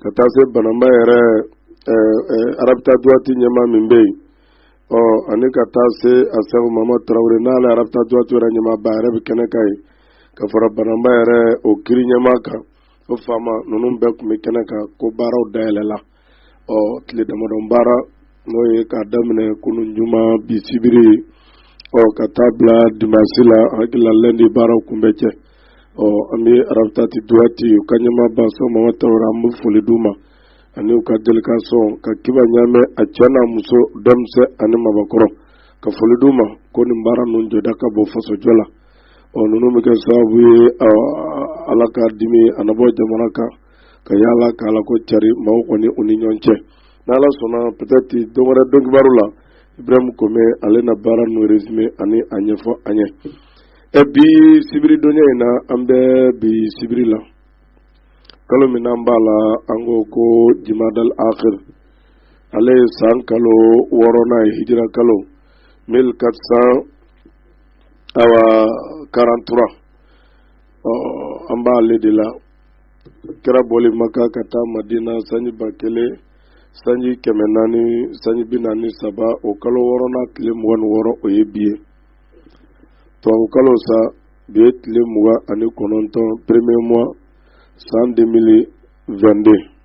ka taa se bananba yɛrɛ arabita duwati ɲɛmaa min bɛ yen ɔ ani ka taa se asɛku mamadu tarawele n'ale arabita duwati yɛrɛ ɲɛmaaba yɛrɛ bɛ kɛnɛ kan yen ka fara bananba yɛrɛ o kiri ɲɛmaa kan o faama ninnu bɛɛ tun bɛ kɛnɛ kan ko baaraw dayɛlɛ la ɔ tile damadɔ baara n'o ye k'a daminɛ kunun juma bi sibiri ɔ ka taa bila dimasi la hakili la lɛndi baaraw kun bɛ cɛ ɔ an bɛ arabitati duwati u ka ɲɛmaaba asɛku mamadu tarawele an bɛ foli d'u ma ani u ka delikasɔn ka kiba ɲaamɛ a cɛ n'a muso denmisɛn ani mabakɔrɔ ka foli d'u ma ko nin baara ninnu jɔda ka bon fasojɔ la ɔ ninnu bɛ kɛ sababu ye ala ka dimi a na bɔ jamana kan ka yaala ka ala ko cari maaw kɔni u ni ɲɔgɔn cɛ n'ala sɔnna peut-être don wɛrɛ don kibaru la ibrahim kome ale na baara ninnu resume ani a ɲɛfɔ an ye ɛ bi sibiri donya in na an bɛ bi sibiri la kalo min n'an b'a la an ko ko jimadal akhir ale ye san kalo wɔɔrɔnan ye hijira kalo 1400 awa 43 ɔ an b'ale de la kira bɔli maka ka taa madina sanji ba kelen sanji kɛmɛ naani sanji bi naani saba o kalo wɔɔrɔnan tile mugan ni wɔɔrɔ o ye bi ye tubabukalo sa bi ye tile mugan ani kɔnɔntɔn premier mois san 2022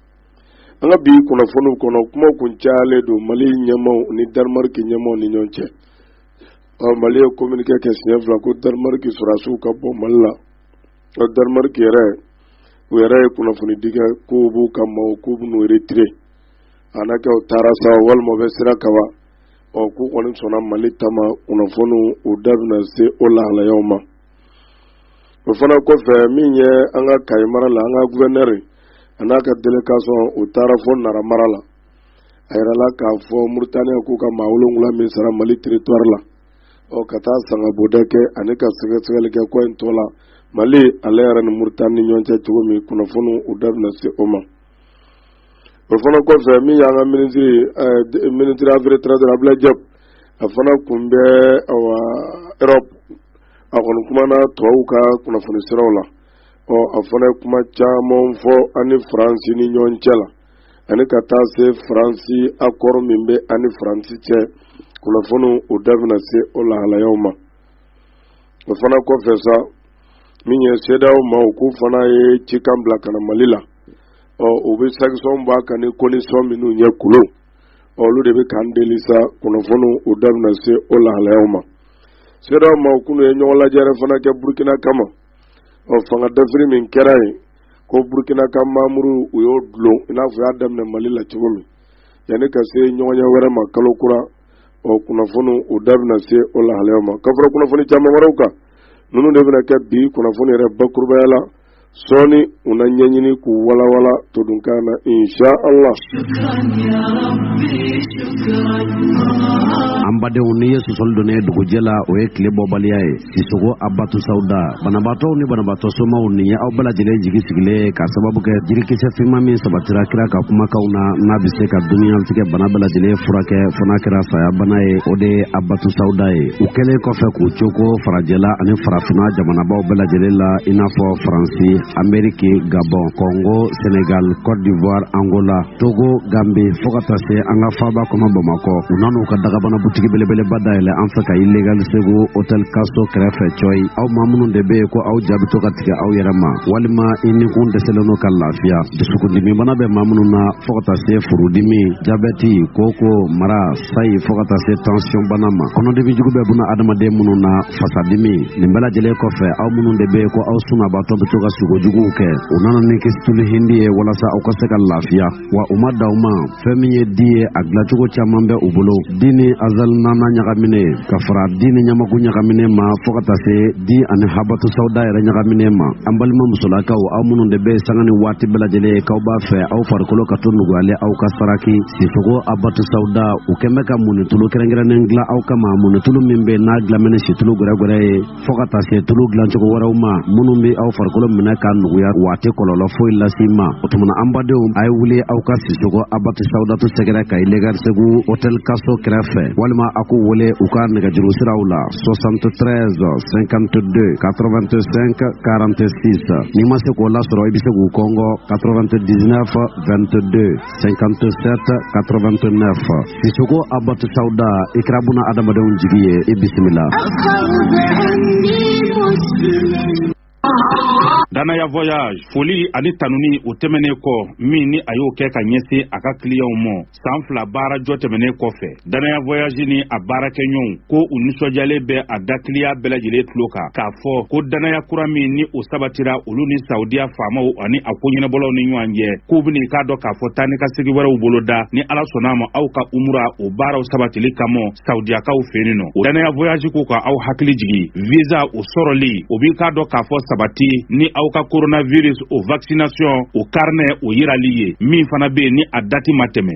an ka bi kunnafoniw kɔnɔ kuma kun cayalen don mali ɲɛmaaw ni danimariki ɲɛmaaw ni ɲɔgɔn cɛ ɔ mali ye kominike kɛ siɲɛ fila ko danimariki sɔrɔdasiw ka bɔ mali la ɔ danimariki yɛrɛ u yɛrɛ ye kunnafoni di kɛ k'u b'u ka maaw k'u bɛn'u retire a na kɛ u taara sa walima u bɛ sira kaban ɔ k'u kɔni sɔnna mali ta ma kunnafoniw u da bɛna se o lahalayaw ma o fana kɔfɛ min ye an ka kayi mara la an ka guvɛnɛri a n'a ka delikasɔn u taara fo nara mara la a yirala k'a fɔ muritaniya k'u ka maa wolonwula min sara mali teritwari la ɔ ka taa sangaboda kɛ ani ka sɛgɛsɛgɛli kɛ ko in tɔ la mali ale yɛrɛ ni muritani ni ɲɔgɔn cɛ cogo min kunnafoniw u da bɛna se o ma o fana kɔfɛ min y'an ka minisiri minisiri afɛri etranzɛri abudulayi jɔpu a fana tun bɛ awa erɔpu a kɔni kumana tubabuw ka kunnafoni siraw la ɔ a fana ye kuma caman fɔ an ni faransi ni ɲɔgɔn cɛ la ani ka taa se faransi akɔrɔ min bɛ an ni faransi cɛ kunnafoniw u da bɛna se o lahalayaw ma o fana kɔfɛ sa min ye sedeyawo maaw k'u fana ye cikan bila ka na mali la ɔ u bɛ sankisɔn b'a kan ni kɔndisɔn minnu ye kolon olu de bɛ k'an deli sa kunnafoniw u da bɛna se o lahalayaw ma CEDEAO maaw kunu ye ɲɔgɔn lajɛrɛ fana kɛ burukina kama ɔ fanga dafiri min kɛra yen ko burukina ka manburu u y'o dulon i n'a fɔ u y'a daminɛ mali la cogo min yanni ka se ɲɔgɔnye wɛrɛ ma kalo kura ɔ kunnafoniw u da bɛna se o lahalayaw ma ka fara kunnafoni caman wɛrɛw kan ninnu de bɛna kɛ bi kunnafoni yɛrɛ bakurubaya la sɔɔni u na ɲɛɲini k'u walawala todunkan na insha Allah an badenw n'i ye sɔsɔli donnen ye dugujɛ la o ye tile bɔbaliya ye sisoko abatu sawda banabaatɔw ni banabaatɔ somaw n'i ye aw bɛɛ lajɛlen jigi sigilen ye ka sababu kɛ jirikisɛ finman min sabatira kira ka kumakanw na n'a bɛ se ka duniyatigɛ bana bɛɛ lajɛlen furakɛ fo n'a kɛra saya bana ye o de ye abatu sawda ye u kɛlen kɔfɛ k'u coko fara jɛla ani farafina jamanabaw bɛɛ lajɛlen la i n'a fɔ faransi ameriki gabɔn kɔngo senegal cote d'ivoire angola togo gambi fɔɔ ka taa se an ka faaba kɔnɔ bamakɔ u nan'u ka dagabana butigi belebeleba dayɛlɛ an fɛ ka ilegal segu hotel kaso kɛrɛfɛ cɔyi aw maa minnu de bɛ yen ko aw ja bɛ to ka tigɛ aw yɛrɛ ma walima i nikun dɛsɛlen don ka lafiya dusukundimibana bɛ maa minnu na fɔɔ ka taa se furudimi jabɛti koko mara sayi fɔɔ ka taa se tansiyɔnbana ma kɔnɔdimijugu bɛ buna adamaden minnu na fasadimi nin bɛɛ lajɛlen kɔfɛ aw minnu de bɛ yen ko aw sunabaatɔ bɛ to ka sugo juguw kɛ u nana ni kisitulu hindi ye walasa aw ka se ka lafiya wa u ma dan o ma fɛn min ye di ye a dilacogo caman bɛ u bolo di ni azali naana ɲagamine ka fara di ni ɲamaku ɲagamine ma fɔɔ ka taa se di ani habatu sawda yɛrɛ ɲagamine ma an balima musolakaw aw minnu de bɛ sanga ni waati bɛɛ lajɛlen k'aw b'a fɛ aw farikolo ka to nuguyalen aw ka saraki Sisoko abatu sawda u kɛlen bɛ ka munitulu kɛrɛnkɛrɛnnen dilan aw kama munitulu min bɛ n'a dilannen bɛ ni situlu gɛrɛgɛrɛ ye fɔ ka taa se tulu dilancogo wɛrɛw ma minnu bɛ aw farikolo minɛ k'a nuguya wa a tɛ kɔlɔlɔ foyi lase i ma o tuma an badenw a ye wuli aw ka sisoko abatu sawdatu sɛgɛrɛ ka ilegal segu hotel kaso kɛrɛfɛ walima a k'u wele u ka nɛgɛjuru siraw la 73 52 85 46 n'i ma se k'o lasɔrɔ i bɛ se k'u kɔngɔ 99 22 57 89 Sisoko Abatu Sauda i kɛra buna adamadenw jigi ye i bisimila Danaya Voyage, foli ani tanuni o tɛmɛnen kɔ min ni a y'o kɛ ka ɲɛsin a ka kiliyanw ma san fila baara jɔ tɛmɛnen kɔfɛ Danaya voyage ni a baarakɛɲɔgɔnw ko u nisɔndiyalen bɛ a da client bɛɛ lajɛlen tulo kan k'a fɔ ko danaya kura min ni o sabatira olu ni Saudiya faamaw ani a ko ɲɛnabɔlaw ni ɲɔgɔn cɛ k'u bɛn'i k'a dɔn k'a fɔ taa ni ka segin wɛrɛw boloda ni Ala sɔnna a ma aw ka umura o baaraw sabatili kama Saudiyakaw fɛ yen nɔ o danaya voyage ko ka aw hakili jigin visa o sɔrɔli o b'i k'a dɔn k'a fɔ sabati ni aw ka coronavirus o vaccination o carnet o yirali ye min fana bɛ yen ni a dati ma tɛmɛ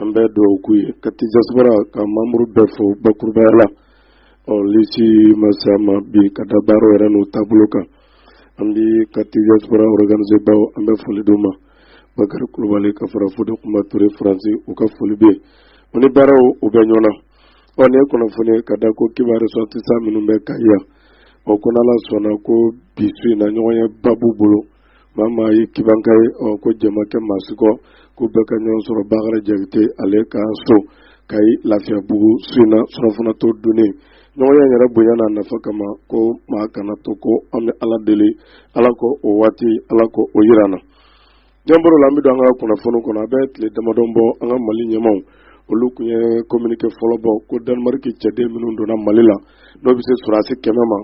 an bɛ dugawu k'u ye ka diaspora ka membre bɛɛ fo bakurubaya la ɔ lisi masa ma bi ka da baara yɛrɛ n'u taabolo kan an bɛ ka diaspora organisebaaw an bɛ foli d'u ma bakari kulubali ka fara fode kuma ture faransi u ka foli bɛ yen o ni baaraw u bɛ ɲɔgɔn na ɔ nin ye kunnafoni ye ka da ko kiban ressortissant minnu bɛ kayi yan o ko n'ala sɔnna ko bi su in na ɲɔgɔnyeba b'u bolo maa maa ye kibanka ye ɔ ko jama kɛ maa si kɔ ko bɛɛ ka ɲɔgɔn sɔrɔ bakari jakite ale ka so kayi lafiyabugu su in na surafana to dunnen ɲɔgɔnye in yɛrɛ bonya n'a nafa kama ko maa kana to kɔ an bɛ ala deli ala k'o waati ala k'o yira an na ɲɛbɔrɔ la an bɛ don an ka kunnafoni kɔnɔ a bɛ tile damadɔn bɔ an ka mali ɲɛmaw olu kun ye communiqué fɔlɔ bɔ ko danemariki cɛden minnu donna mali la n'o bɛ se sɔrɔdasi kɛmɛ ma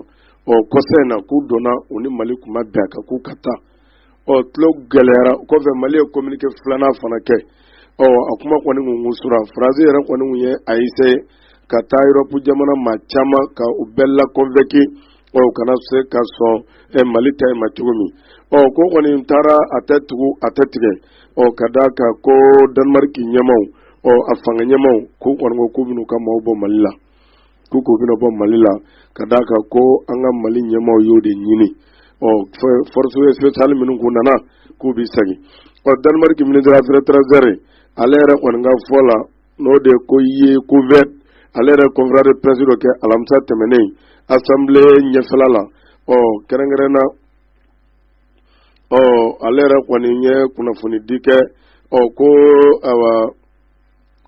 ɔ kɔsa in na k'u donna u ni mali kun ma bɛn a kan k'u ka taa ɔ tulo gɛlɛyara o kɔfɛ mali ye communiqué filanan fana kɛ ɔ a kuma kɔni kun kun sura faransi yɛrɛ kɔni kun ye a essayer ka taa europe jamana maa caman ka u bɛɛ la convaincu ɔ u kana se ka sɔn ɛ mali ta in ma cogo min ɔ ko kɔni taara a tɛ tugu a tɛ tigɛ ɔ ka d'a kan ko danemark ɲɛmaw ɔ a fanga ɲɛmaw k'u kɔni ko k'u bɛn'u ka maaw bɔ mali la ko k'u bɛna bɔ mali la ka d'a kan ko an ka mali ɲɛmaaw y'o de ɲini ɔ force spéciale minnu kun nana k'u bɛ segin ɔ danemark ministre affaires étrangères ale yɛrɛ kɔni ka fɔ la n'o de ko ye kofod ale yɛrɛ conférence de presse dɔ kɛ alamisa tɛmɛnen assemblée ɲɛfɛla la ɔ kɛrɛnkɛrɛn na ɔ ale yɛrɛ kɔni ye kunnafoni di kɛ ɔ ko awa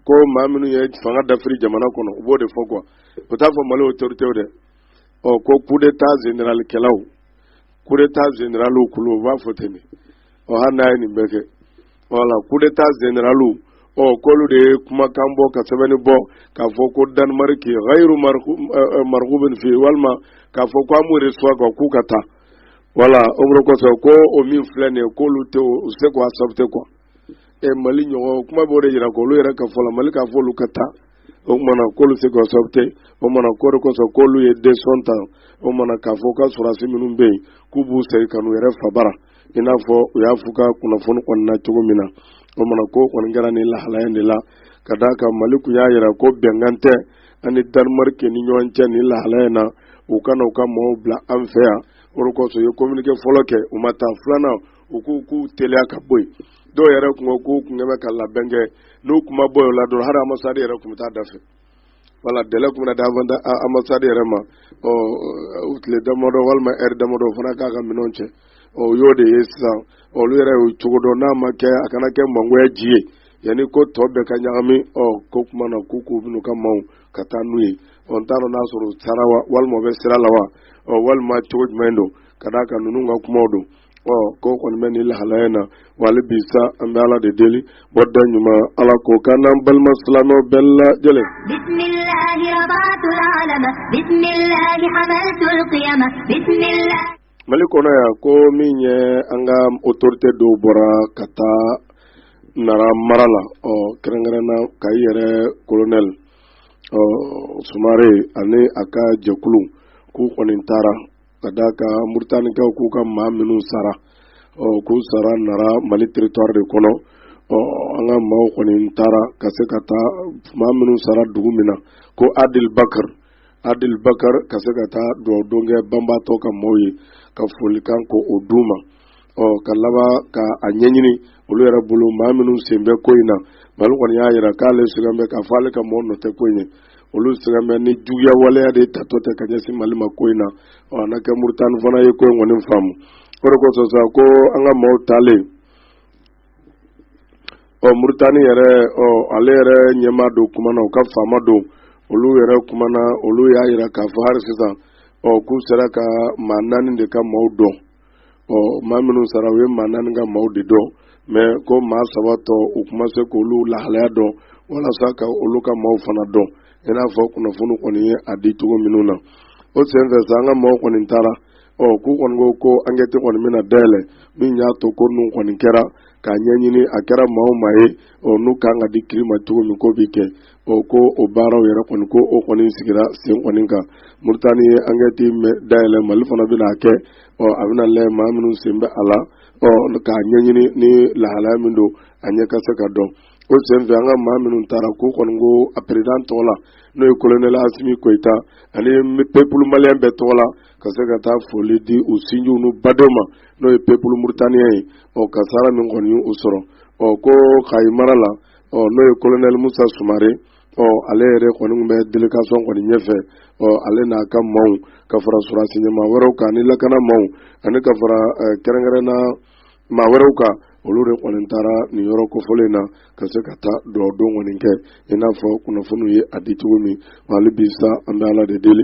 ko maa minnu ye fanga dafiri jamana kɔnɔ u b'o de fɔ quoi u t'a fɔ mali autoritéw dɛ ɔ ko coup d'état général kɛlaw coup d'état généralw kulu u b'a fɔ ten de ɔ hali n'a ye nin bɛɛ kɛ voilà coup d'état généralw ɔ k'olu de ye kumakan bɔ ka sɛbɛnni bɔ k'a fɔ ko danimariki ghayru marghubin fi walima k'a fɔ ko an m'u reçoit k'u ka taa voilà o kosɔn ko o min filɛ nin ye k'olu tɛ o se k'a accepter quoi ɛ mali ɲɔgɔn kuma b'o de jira k'olu yɛrɛ ka fɔ la mali k'a fɔ olu ka taa o kumana k'olu se k'o akisɛpite o kumana k'o de kosɔn k'olu ye desizɔn ta o kumana k'a fɔ ka sɔrɔdasi minnu bɛ yen k'u b'u segin ka n'u yɛrɛ fabara i n'a fɔ u y'a f'u ka kunnafoni kɔni na cogo min na o kumana k'o kɔni kɛra nin lahalaya de la ka d'a kan mali kun y'a jira ko bɛnkan tɛ a ni danimarike ni ɲɔgɔn cɛ nin lahalaya in na u kana u ka mɔgɔw bila an fɛ yan o de kosɔn u ye kominike fɔlɔ kɛ u ma taa filanan u ko k'u teliya ka bɔ yen dɔw yɛrɛ kun ko k'u kun bɛ ka labɛn kɛ n'u kun ma bɔ o la dɔrɔn hali anbasadi yɛrɛ kun bɛ taa da fɛ wala delɛ kun bɛ d'anbasadi yɛrɛ ma ɔ u tile damadɔ walima ɛri damadɔ o fana k'a ka minɛnw cɛ ɔ o y'o de ye sisan olu yɛrɛ y'o cogo dɔn n'a ma kɛ a kana kɛ mangoya ji ye yanni ko tɔ bɛɛ ka ɲagami ɔ k'o kuma na k'u k'u bɛn'u ka maaw ka taa n'u ye ɔ n t'a dɔn n'a sɔrɔ u taara wa walima u bɛ sira la wa ɔ walima cogo jumɛn don ka d'a kan ninnu ka kumaw don ko kɔni bɛ nin lahalaya na wa hali bi sa an bɛ ala de deli bɔda ɲuman ala k'o k'an n'an balima silamɛ bɛɛ lajɛlen mali kɔnɔ yan ko min ye an ka otorite dɔw bɔra ka taa nara mara la ɔ kɛrɛnkɛrɛnna kayi yɛrɛ kolonɛli ɔ sumare ani a ka jɛkulu k'u kɔni taara ka d'a kan muritanikaw k'u ka maa minnu sara ɔ k'u sara nara mali teritwari de kɔnɔ ɔ an ka maaw kɔni taara ka se ka taa maa minnu sara dugu min na ko adil bakar adil bakar ka se ka taa dugawu don kɛ banbaatɔ ka maaw ye ka folikan k'o d'u ma ɔ ka laban ka a ɲɛɲini olu yɛrɛ bolo maa minnu sen bɛ ko in na mali kɔni y'a jira k'ale sigan bɛ k'a fɔ ale ka maaw nɔ tɛ ko in ye olu sigan bɛ nin juguya waleya de tatɔ tɛ ka ɲɛsin mali ma ko in na ɔ a na kɛ muritani fana ye ko in kɔni faamu o de kosɔn sa ko an ka maaw taalen ɔ muritani yɛrɛ ɔ ale yɛrɛ ɲɛmaa dɔw kumana u ka faama dɔw olu yɛrɛ kumana olu y'a yira k'a fɔ hali sisan ɔ k'u sera ka maa naani de ka maaw dɔn ɔ maa minnu sara u ye maa naani ka maaw de dɔn mɛ ko maa saba tɔ u kun ma se k'olu lahalaya dɔn walasa ka olu ka maaw fana dɔn i n'a fɔ kunnafoni kɔni ye a di cogo minnu na o senfɛ sa an ka maaw kɔni taara ɔ k'u kɔni ko ko ankɛti kɔni bɛna dayɛlɛ min y'a to ko ninnu kɔni kɛra k'a ɲɛɲini a kɛra maa o maa ye ɔ n'u kan ka di kiri ma cogo min k'o bɛ kɛ ɔ ko o baaraw yɛrɛ kɔni ko o kɔni sigira sen kɔni kan muritani ye ankɛti dayɛlɛ mali fana bɛna kɛ ɔ a bɛna lajɛ maa minnu sen bɛ a la ɔ k'a ɲɛɲini ni lahalaya min don a ɲɛ ka se ka dɔn o senfɛ an ka maa minnu taara k'u kɔni ko a perezidan tɔgɔ la n'o ye kolonɛl asimi koyita ani pepulu maliyɛn bɛɛ tɔgɔ la ka se ka taa foli di u sinjiw n'u badenw ma n'o ye pepulu muritaniyɛn ye ɔ kasaara min kɔni y'u sɔrɔ ɔ ko kayi mara la ɔ n'o ye kolonɛli musa sumare ɔ ale yɛrɛ kɔni tun bɛ delegasɔn kɔni ɲɛfɛ ɔ ale n'a ka maaw ka fara sɔrɔdasi ɲɛmaa wɛrɛw kan ni lakana maaw ani ka fara kɛrɛnkɛrɛnna maa wɛrɛw kan olu de kɔni taara nin yɔrɔ kofɔlen na ka se ka taa dugawu don kɔni kɛ i n'a fɔ kunnafoniw ye a di cogo min hali bi sa an bɛ ala de deli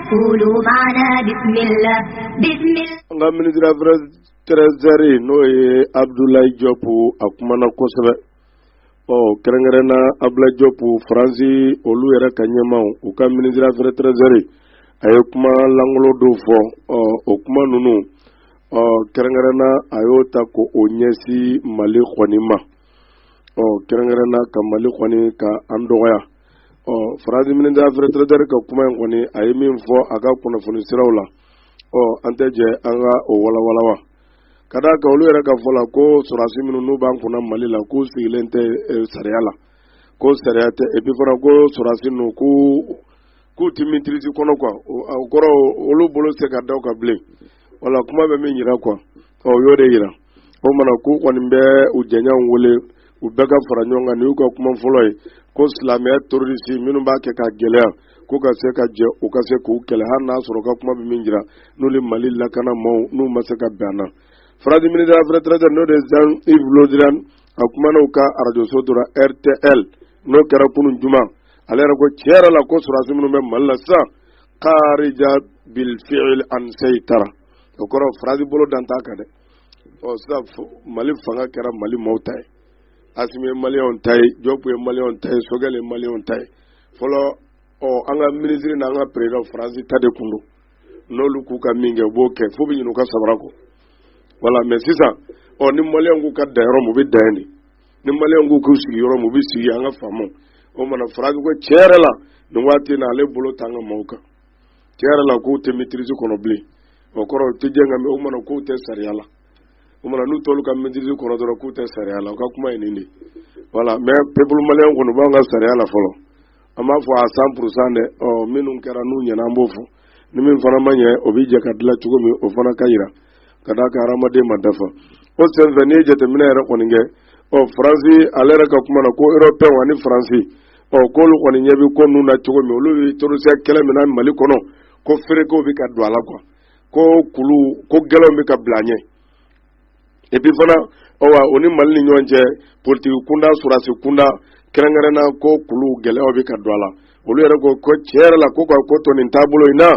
An ka minisiri afɛri etaranzɛri n'o ye abudulayi jɔp a kumana na kosɛbɛ ɔ kɛrɛnkɛrɛn na abudulayi jɔp faransi olu yɛrɛ ka ɲɛmaaw u ka minisiri afɛri etaranzɛri a ye kuma lankolon dɔw fɔ ɔ o kuma ninnu ɔ kɛrɛnkɛrɛn na a y'o ta ko o ɲɛsin mali kɔni ma ɔ kɛrɛnkɛrɛn na ka mali kɔni ka an dɔgɔya ɔ faransi minisiri afɛri etaranzɛri ka kuma in kɔni a ye min fɔ a ka kunnafoni siraw la ɔ an tɛ jɛ an ka o walawala wa ka d'a kan olu yɛrɛ ka fɔ la ko sɔrɔdasi minnu n'u b'an kunna mali la k'u sigilen tɛ eh, sariya la ko sariya tɛ epi fana ko sɔrɔdasi ninnu k'u tɛ mitirisi kɔnɔ kuwa o kɔrɔ olu bolo tɛ se ka da u kan bilen wala kuma bɛ min yira kuwa ɔ o y'o de yira o mana k'u kɔni bɛ u jɛɲɔgɔnw wele u bɛɛ ka fara ɲɔgɔn kan nin y'u ka kuma fɔlɔ ye ko silamɛya terorisi minnu b'a kɛ ka gɛlɛya k'u ka se ka jɛ u ka se k'u kɛlɛ hali n'a sɔrɔ ka kuma bɛ min jira n'u ni mali lakana maaw n'u ma se ka bɛn na faransi minisiri afɛri etaranzɛri n'o de ye zan ivu lediriyan a kumana u ka arajoso dɔ ra rtl n'o kɛra kunun juma ale yɛrɛ ko tiɲɛ yɛrɛ la ko sɔrɔdasi minnu bɛ mali la sisan karija bilfiil an seyitara o kɔrɔ faransi bolo dan t'a kan dɛ ɔ sisan mali fanga kɛra mali maaw ta ye asimi ye maliyɛnw ta ye jɔpu ye maliyɛnw ta ye sogɛl ye maliyɛnw ta ye fɔlɔ ɔ an ka minisiri n'an ka perezidan faransi ta de kun don n'olu k'u ka min kɛ u b'o kɛ f'u bɛ ɲinɛ u ka sabara kɔ wala mɛ sisan ɔ ni maliyɛnw k'u ka dan yɔrɔ min u bɛ dan yen de ni maliyɛnw k'u k'u sigi yɔrɔ min u bɛ sigi an k'a faamu o mana faransi ko tiɲɛ yɛrɛ la nin waati in na ale bolo t'an ka maaw kan tiɲɛ yɛrɛ la k'u tɛ maîtrise kɔnɔ bilen o kɔrɔ u tɛ diɲɛ kan mɛ o mana k'u tɛ sariya la o mana n'u t'olu ka maîtrise kɔnɔ dɔrɔn k'u tɛ sariya la u ka kuma ye nin de voilà mais peuple malien kɔni u b'an ka sariya la fɔlɔ an b'a fɔ à cent pourcent dɛ ɔ minnu kɛra n'u ɲɛna an b'o fɔ ni min fana ma ɲɛ o bɛ jɛ ka dilan cogo min o fana ka jira ka d'a kan hadamaden ma dafa o senfɛ n'i ye jateminɛ yɛrɛ kɔni kɛ ɔ faransi ale yɛrɛ ka kuma na ko europɛnw ani faransi ɔ k'olu kɔni ɲɛ bɛ ko ninnu na cogo min olu bɛ terorisiya kɛlɛ min na mali kɔnɔ ko feerekew bɛ ka don a la kuwa ko k'olu ko gɛlɛnw bɛ ka bila ɲɛ epi fana ɔwa o ni mali ni ɲɔgɔn cɛ politiki kunda sɔrɔdasi kunda kɛrɛnkɛrɛnna ko k'olu gɛlɛyaw bɛ ka don a la olu yɛrɛ ko ko tiɲɛ yɛrɛ la ko ka ko to nin taabolo in na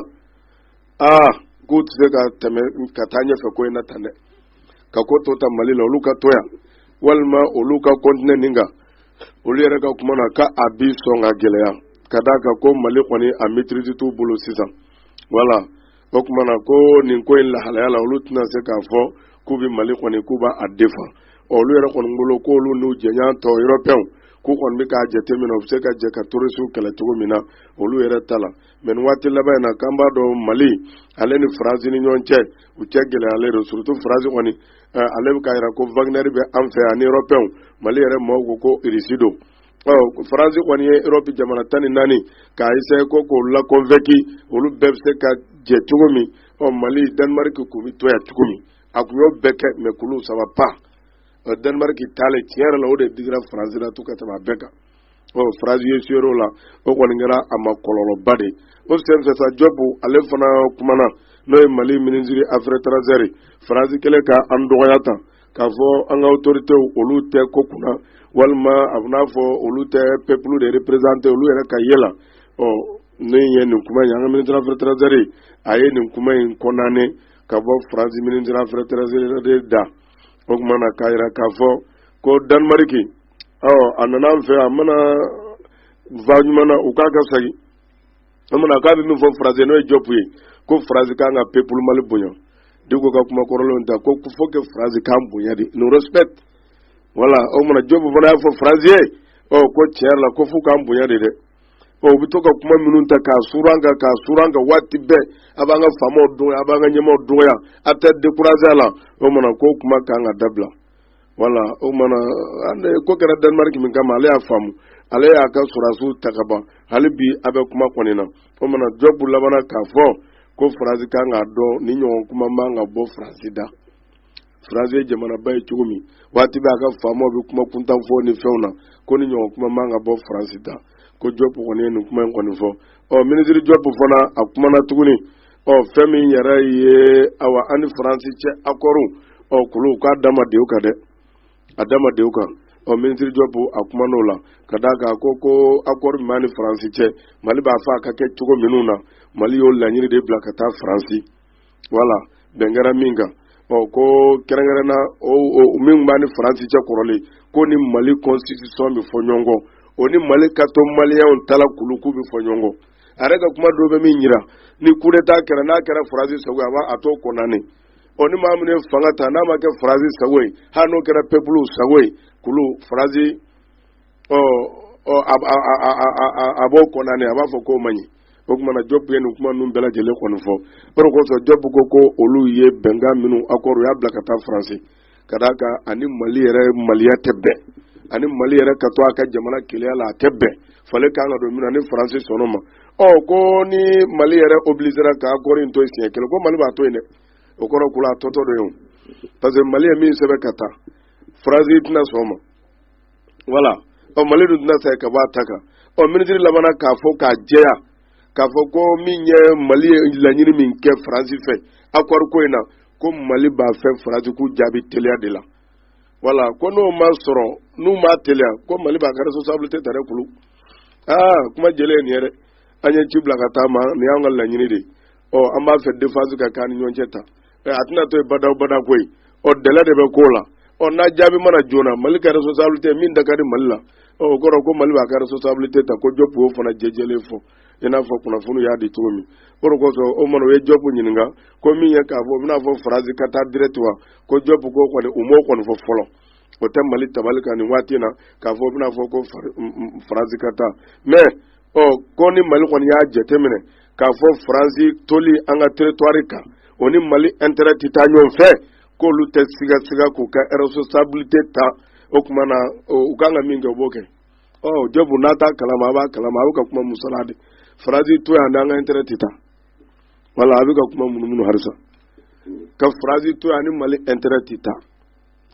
aa k'u tɛ se ka tɛmɛ ka taa ɲɛfɛ ko in na tan dɛ ka ko to ta mali la olu ka to yan walima olu ka kɔntinɛ nin kan olu yɛrɛ ka kuma na k'a bɛ sɔn ka gɛlɛya ka d'a kan ko mali kɔni a mɛtirizi t'u bolo sisan wala o tuma na ko nin ko in lahalaya la olu tɛna se k'a fɔ k'u bɛ mali kɔni k'u b'a defan olu yɛrɛ kɔni bolo k'olu n'u jɛɲɔgɔn tɔ yɔrɔpɛnw k'u kɔni bɛ k'a jateminɛ u bɛ se ka jɛ ka terorisiw kɛlɛ cogo min na olu yɛrɛ ta la mɛ waati laban in na k'an b'a dɔn mali ale ni faransi ni ɲɔgɔn cɛ u cɛ gɛlɛyalen don surutu faransi kɔni eh, ale bɛ k'a jira ko wagnɛri bɛ an fɛ ani yɔrɔpɛnw mali yɛrɛ maaw ko ko irisi don faransi kɔni ye yɔrɔpi jamana tan ni naani k'a eseye ko k'u lakɔnvɛnki olu bɛɛ bɛ se ka jɛ cogo min mali danimariki k'u bɛ to yan cogo min a tun y'o bɛɛ kɛ mɛ k'olu sa va pa danimariki taalen tiɲɛ yɛrɛ la o de digira faransi la to ka tɛmɛ a bɛɛ kan ɔ faransi esuwera o la o kɔni kɛra a ma kɔlɔlɔba de o senfɛ sa jɔpu ale fana kumana n'o ye mali minisiri afɛri etaranzɛri faransi kɛlen ka an dɔgɔya tan k'a fɔ an ka otoritew olu tɛ ko kunna walima a b'i n'a fɔ olu tɛ pepulu de reperezante olu yɛrɛ ka ye la ɔ ne ye nin kuma in an ka minisiri afɛri etaranzɛri a ye nin kuma in kɔndane ka bɔ faransi minisiri afɛri etaranzɛri da o tuma na k'a jira k'a fɔ ko danimariki ɔ a nana an fɛ a ma na fan ɲuman na u k'a ka segin o mana k'a bɛ min fɔ faransi n'o ye jɔpu ye ko faransi kan ka pepulu mali bonya de ko ka kuma kɔrɔlenw ta ko fo ke faransi k'an bonya de nous respecte wala o mana jɔpu fana y'a fɔ faransi ye ɔ ko tiɲɛ yɛrɛ la ko f'u k'an bonya de dɛ ɔ u bɛ to ka kuma minnu ta k'a suuru an kan k'a suuru an kan waati bɛɛ a b'an ka faamaw dɔgɔya a b'an ka ɲɛmaaw dɔgɔya a tɛ dekuraze a la o mana ko kuma kan ka dabila wala o tumana an ko kɛra danemariki min kama ale y'a faamu ale y'a ka sɔrɔdasiw ta ka ban hali bi a bɛ kuma ko nin na o tumana jɔpu labanna k'a fɔ ko faransi kan k'a dɔn nin ɲɔgɔn kuma man ka bɔ faransi da faransi ye jamanaba ye cogo min waati bɛɛ a ka faamaw bɛ kuma kuntan fɔ nin fɛnw na ko nin ɲɔgɔn kuma man ka bɔ faransi da ko jɔpu kɔni ye nin kuma in kɔni fɔ ɔ minisiri jɔpu fana a kumana tuguni ɔ fɛn min yɛrɛ ye awa an ni faransi cɛ akɔriw ɔ kulu k'a dama dew kan dɛ a dama dew kan ɔ minisiri jɔpu a kumana o la ka d'a kan ko ko akɔri min b'a ni faransi cɛ mali b'a fɔ a ka kɛ cogo minnu na mali y'o laɲini de bila ka taa faransi wala bɛn kɛra min kan ɔ ko kɛrɛnkɛrɛnna min b'a ni faransi cɛ kɔrɔlen ko ni mali constitution bɛ fɔ ɲɔgɔn kɔ o ni mali ka to maliyɛnw ta la kulu k'u bɛ fɔ ɲɔgɔn kɔ a yɛrɛ ka kuma dɔw bɛ min jira ni kudeta kɛra n'a kɛra faransi sago ye a b'a a t'o kɔndane ɔ ni maa min ye fanga ta n'a ma kɛ faransi sago ye hali n'o kɛra pepulu sago ye kulu faransi ɔ ɔ a b'o kɔndane a b'a fɔ k'o man ɲi o tuma na jɔpu ye nin kuma ninnu bɛɛ lajɛlen kɔni fɔ o de kosɔn jɔpu ko ko olu ye bɛnkan minnu akɔri u y'a bila ka taa faransi ka d'a kan a ni mali yɛrɛ maliya tɛ bɛn a ni mali yɛrɛ ka to a ka jamana kelenya la a tɛ bɛn falen kan ka don min na ni faransi sɔnn'a ma ɔ ko ni mali yɛrɛ obilizera k'akɔri in to yen siɲɛ kelen ko mali b'a to yen dɛ o kɔrɔ kulu a totɔ don yen parce que mali ye min sɛbɛn ka taa faransi tɛna sɔn o ma wala ɔ mali dun tɛna se ka bɔ a ta kan ɔ minisiri labanna k'a fɔ k'a jɛya k'a fɔ ko min ye mali ye laɲini min kɛ faransi fɛ akɔri ko in na ko mali b'a fɛ faransi k'u jaabi teliya de la wala ko n'o ma sɔrɔ n'u ma teliya ko mali b'a ka responsabilité ta dɛ kulu aa kuma jɛlen ye nin ye dɛ an ye ci bila ka taa a ma nin y'an ka laɲini de ye ɔ an b'a fɛ defansi ka k'an ni ɲɔgɔn cɛ tan ɛ a tɛna to yen badaa badaa ko ye ɔ dɛlɛ de bɛ ko la ɔ n'a jaabi ma na joona mali ka responsabilité min da ka di mali la ɔ o kɔrɔ ko mali b'a ka responsabilité ta ko jɔpu y'o fana jɛjɛlen fɔ i n'a fɔ kunnafoni y'a di cogo min o de kosɔn o mana u ye jɔpu ɲininka ko min ye k'a fɔ u bɛna fɔ faransi ka taa direct wa ko jɔpu ko kɔni u m'o kɔni fɔ fɔlɔ o tɛ mali tabali kan nin waati in na k'a fɔ u bɛna fɔ ko faransi ka taa mais ɔ ko ni mali kɔni y'a jateminɛ k'a fɔ faransi toli an ka territoire kan o ni mali intérêt tɛ taa ɲɔgɔn fɛ k'olu tɛ sigasiga k'u ka responsabilité ta o tuma na u kan ka min kɛ u b'o kɛ ɔ jɔpu n'a t'a kalama a b'a kalama a bɛ ka kuma musala de faransi to yan n'an ka intɛrɛ tɛ taa wala a bɛ ka kuma munumunu halisa ka faransi to yan ni mali intɛrɛ tɛ taa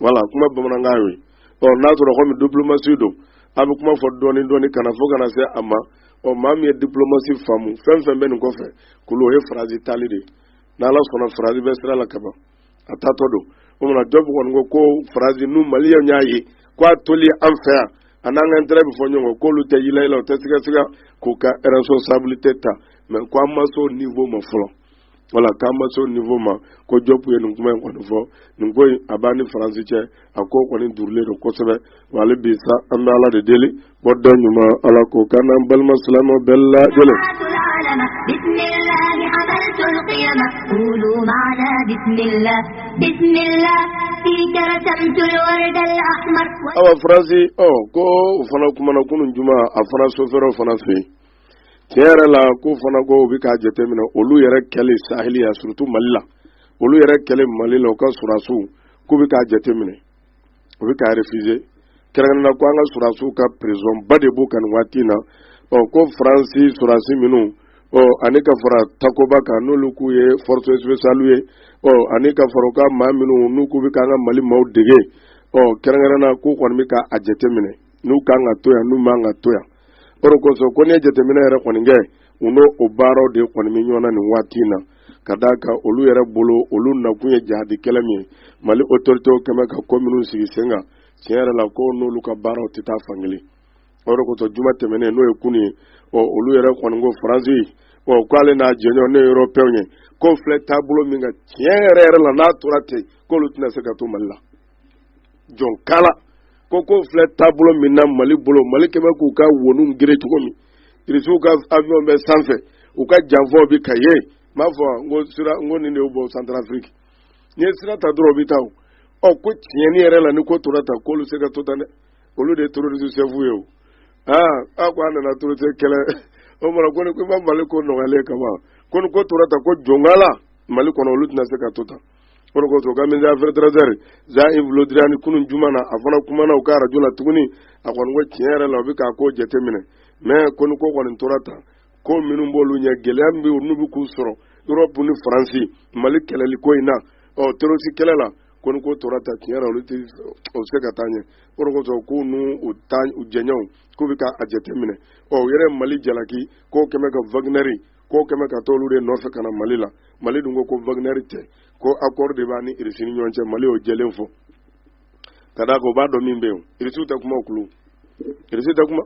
wala kuma bamanankan y'o ye ɔ n'a sɔrɔ komi diplomasi don a bɛ kuma fɔ dɔɔni dɔɔni ka na fo ka na se a ma ɔ maa min ye diplomasi faamu fɛn fɛn bɛ nin kɔfɛ kulu o ye faransi taali de ye n'ala sɔnna faransi bɛ sira la kaban a taatɔ don o tuma na jɔp kɔni ko ko faransi n'u maliyɛnw y'a ye k'a toli an fɛ yan a n'an ka intɛrɛ bɛ fɔ ɲɔgɔn kɔ k'olu tɛ yila yila u tɛ siga siga k'u ka responsabilité ta mais ko an ma se o niveau ma fɔlɔ wala k'an ma se o niveau ma ko jɔp ye nin kuma in kɔni fɔ nin ko in a b'an ni faransi cɛ a ko kɔni duurulen don kosɛbɛ wa hali bi sa an bɛ ala de deli Bɔda ɲuman ala k'o k'an balima silamɛw bɛɛ la gɛlɛn awa faransi ɔ ko u fana kumana kunun juma a fana so fɛrɛ fana fɛ yen tiɲɛ yɛrɛ la ko fana ko u bɛ k'a jateminɛ olu yɛrɛ kɛlen sahɛli la surtout mali la olu yɛrɛ kɛlen mali la u ka sɔrɔdasiw k'u bɛ k'a jateminɛ o bɛ k'a refusé kɛrɛnkɛrɛnnenya ko an ka sɔrɔdasiw ka pression ba de b'u kan nin waati in na ɔ ko faransi sɔrɔdasi minnu ɔ ani ka fara takoba kan n'olu k'u ye force spéciale ye ɔ ani ka fara u ka maa minnu n'u k'u bɛ k'an ka mali maaw dege ɔ kɛrɛnkɛrɛnnenya k'u kɔni bɛ ka a jateminɛ n'u kan ka to yan n'u man ka to yan o de kosɔn ko n'i ye jateminɛ yɛrɛ kɔni kɛ u n'o o baaraw de kɔni bɛ ɲɔgɔn na nin waati in na ka d' a ka olu yɛrɛ bolo olu nakun ye jihadi kɛlɛ min ye mali autoritéw kɛmɛ ka ko minnu sigi sen kan tiɲɛ yɛrɛ la ko n'olu ka baaraw tɛ taa fankelen o kosɔn juma tɛmɛnen n'o ye kunun ye ɔ olu yɛrɛ kɔni ko faransi ɔ k'ale n'a jɛɲɔgɔn européenw ko filɛ taabolo min kan tiɲɛ yɛrɛ yɛrɛ la n'a tora ten k'olu tɛna se ka to mali la jɔn kala ko ko filɛ taabolo min na mali bolo mali kɛmɛ k'u ka wonun gere cogo min irisiw ka avion bɛ sanfɛ u ka janfɔ bi ka ye n b'a fɔ n ko sira n ko nin de y'u bɔ santarafiriki n'i ye sira ta dɔrɔn o bɛ taa o ɔ ko tiɲɛni yɛrɛ la ni ko tora tan k'olu se ka to tan dɛ olu de ye terorisi sɛfu ye o aa a ko an nana terorisi kɛlɛ o mara ko ni ko i ma mali ko nɔgɔyalen kama ko ni ko tora tan ko jɔnkala mali kɔnɔ olu tɛna se ka to tan k'o de kosɔn u ka ministre des affaires étrangères jean-yves le drian kunun juma na a fana kumana u ka arajo la tuguni a kɔni ko tiɲɛ yɛrɛ la u bɛ k'a ko jateminɛ mais ko ni ko kɔni tora tan ko minnu b'olu ɲɛ gɛlɛya min bɛ yen n'u bɛ k'u sɔrɔ erɔpu ni faransi mali kɛlɛli ko in na ɔ terorisi kɛlɛ la ko ni ko tora tan tiɲɛ yɛrɛ olu tɛ o se ka taa ɲɛ k'o de kosɔn k'u n'u u ta u jɛɲɔgɔnw k'u bɛ k'a jateminɛ ɔ u yɛrɛ mali jalaki k'o kɛmɛ ka wagnɛri ko kɛmɛ ka t'olu de nɔfɛ ka na mali la mali dun ko ko wagnɛri tɛ ko accord de b'a ni irisi ni ɲɔgɔn cɛ mali y'o jɛlen fɔ ka d'a kan u b'a dɔn min bɛ yen irisiw tɛ kuma u tulo irisi tɛ kuma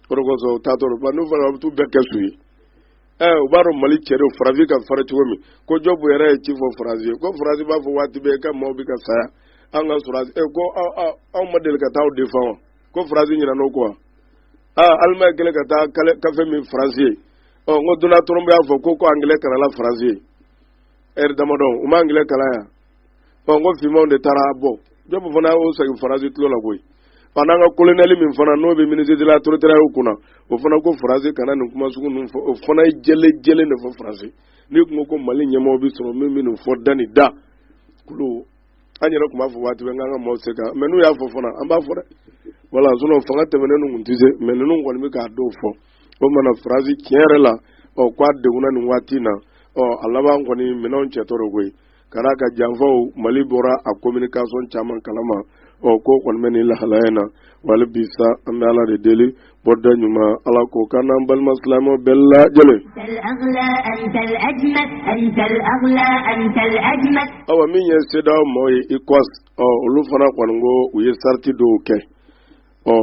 o de kosɔn u taatɔ don n'u fana bɛ t'u bɛɛ kɛ su ye ɛ u b'a dɔn mali cɛ don faransi ka fara cogo min ko jɔbu yɛrɛ ye ci fɔ faransi ye ko faransi b'a fɔ waati bɛɛ k'a maaw bɛ ka sa yan an ka sɔrɔdasi ko anw ma deli ka taa aw défendre wa ko faransi ɲinɛna o kɔ wa aa alimaɲi kɛlen ka taa kafe min faransi yen ɔ n ko donald trump y'a fɔ ko ko angilɛ kalanna faransi yen ɛri damadɔ u ma angilɛ kalan yan ɔ n ko finmanw de taar'u bɔ jɔbu fana y'o segin faransi tulo la koyi ɔ n'an ka kolonɛli min fana n'o bɛ minisitiri la territoirew kunna o fana ko faransi kana nin kuma sugu ninnu fɔ o fana ye jɛlen jɛlen de fɔ faransi n'i kun ko ko mali ɲɛmɔgɔ bɛ sɔrɔ min bɛ nin fɔ da ni da kulu an yɛrɛ tun b'a fɔ waati bɛɛ k'an ka maaw se ka mɛ n'u y'a fɔ fana an b'a fɔ dɛ wala sinɔ fanga tɛmɛnen ninnu tɛ se mɛ ninnu kɔni bɛ k'a dɔw fɔ o mana faransi tiɲɛ yɛrɛ la ɔ k'a degunna nin waati in na ɔ a laban kɔni minɛnw cɛtɔ de koyi ka d'a ka janfaw mali bɔra a kominikasɔn caman kalama ɔ k'o kɔni bɛ nin lahalaya in na wala bi sa an bɛ ala de deli bɔda ɲuman ala k'o k'an n'an balima silamɛ bɛɛ lajɛlen awa min ye sedaw mɔgɔ ye ECOWAS ɔ olu fana kɔni ko u ye sariti dɔw kɛ ɔ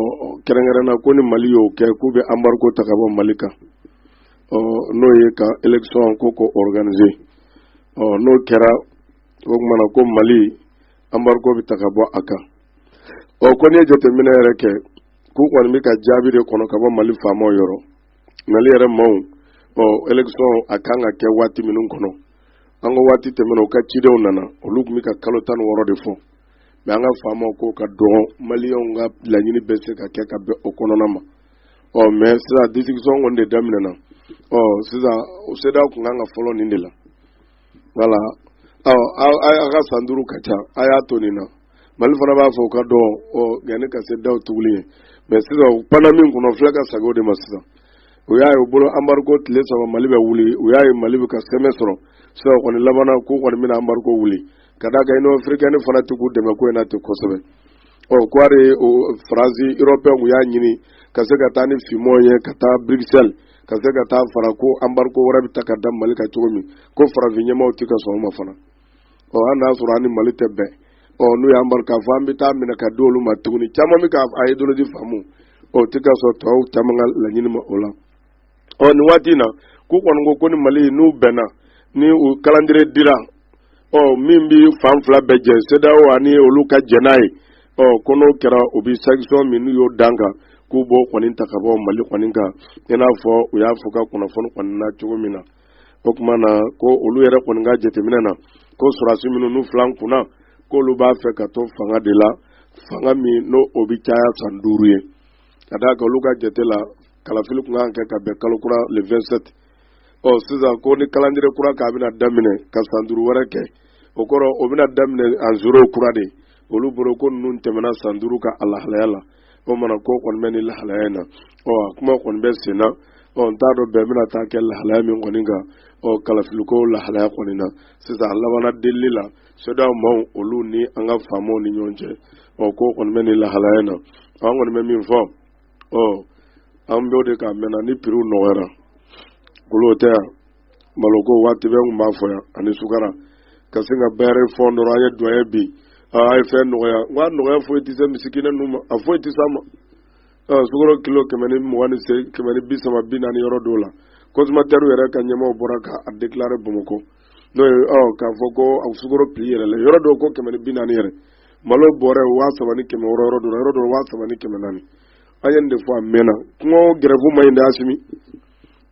kɛrɛnkɛrɛnna ko ni mali y'o kɛ k'u bɛ anbariko ta ka bɔ mali kan ɔ n'o ye ka elekisɔn ko ko organise ɔ n'o kɛra o tumana ko mali anbariko bɛ ta ka bɔ a kan ɔ ko n'i ye jateminɛ yɛrɛ kɛ k'u kɔni bɛ ka jaabi de kɔnɔ ka bɔ mali faamaw yɔrɔ mali yɛrɛ maaw ɔ elekisɔn a kan ka kɛ waati minnu kɔnɔ an ka waati tɛmɛnen u ka cidenw nana olu tun bɛ ka kalo tan ni wɔɔrɔ de fɔ mɛ an ka faamaw ko ka dɔn maliyɛnw ka laɲini bɛ se ka kɛ ka bɛn o kɔnɔna ma ɔ mɛ sisan disikisɔn kɔni de daminɛna ɔ sisan o sedaw tun kan ka fɔlɔ nin de la wala a ka san duuru ka ca a y'a to nin na mali fana b'a fɔ ka dɔn ɔ yanni ka se daw tuguli ye mɛ sisan u panna min kɔnɔ fila ka sago de ma sisan u y'a ye u bolo anbariko tile saba mali bɛ wuli u y'a ye mali bɛ ka sɛmɛ sɔrɔ sisan kɔni laban na k'u kɔni bɛna anbariko wuli ka d'a kan inɔn afirikɛni fana tɛ k'u dɛmɛ ko in na ten kosɛbɛ ɔ kɔɔri faransi erɔpeyɛnw y'a ɲini ka se ka taa ni finmanw ye ka taa burikisɛli ka se ka taa fara ko anbariko wɛrɛ bɛ ta ka da mali kan cogo min ko farafin ɲɛmaaw tɛ ka sɔn o ma fana ɔ an n'a sɔrɔ an ni mali tɛ bɛn ɔ n'u y'an bari k'a fɔ an bɛ taa minɛ ka di olu ma tuguni caman bɛ ka ideyoloji faamu u tɛ ka sɔn tɔw caman ka laɲini ma o la ɔ nin waati in na k'u kɔni ko ko ni mali n'u bɛnna ni u kalandire dira ɔ min bɛ fan fila bɛɛ jɛ sedaw ani olu ka jɛn n'a ye ɔ ko n'o kɛra u bɛ sanction min n'u y'o d'a kan k'u b'o kɔni ta ka bɔ Mali kɔni kan i n'a fɔ u y'a fɔ ka kunnafoni kɔni na cogo min na o tuma na ko olu yɛrɛ kɔni ka jateminɛ na ko sɔrɔdasi minnu n'u fil'an kunna k'olu b'a fɛ ka to fanga de la fanga min n'o o bɛ caya san duuru ye ka d'a kan olu ka jate la kalafili tun kan ka kɛ ka bɛn kalo kura le 27 ɔ sisan ko nin kalandire kura k'a bɛna daminɛ ka san duuru wɛrɛ kɛ o kɔrɔ o bɛna daminɛ a zero kura de olu bolo ko ninnu tɛmɛna san duuru kan a lahalaya la o mana ko kɔni bɛ nin lahalaya in na ɔ a kuma kɔni bɛ sen na ɔ n t'a dɔn bɛn bɛna taa kɛ lahalaya min kɔni kan ɔ kalafiliko lahalaya kɔni na sisan a labanna delili la sedaw maaw olu ni an ka faamaw ni ɲɔgɔn cɛ ɔ ko kɔni bɛ nin lahalaya in na an kɔni bɛ min fɔ ɔ an bɛ o de kan mɛnna ni piriw nɔgɔyara golo tɛ yan maloko waati bɛɛ n tun b'a fɔ yan ani sukaro ka sin ka bɛrɛ fɔ dɔrɔn an ye duwaye bin a ye fɛn nɔgɔya n ko a nɔgɔya foyi tɛ se misikinɛ ninnu ma a foyi tɛ s'a ma sukaro kilo kɛmɛ ni mugan ni se kɛmɛ ni bi saba bi naani yɔrɔ dɔw la kɔnsumatɛriw yɛrɛ ka ɲɛmaaw bɔra k'a dekilare bamakɔ n'o ye ɔ k'a fɔ ko a sukoro piri yɛlɛla yɔrɔ dɔw ko kɛmɛ ni bi naani yɛrɛ malo bɔrɛ waa saba ni kɛmɛ wɔɔrɔ yɔrɔ dɔ yɔrɔ dɔ waa saba ni kɛmɛ naani an ye nin de fɔ a mɛnna kɔngɔ gɛrɛfu man ɲi dɛ asimi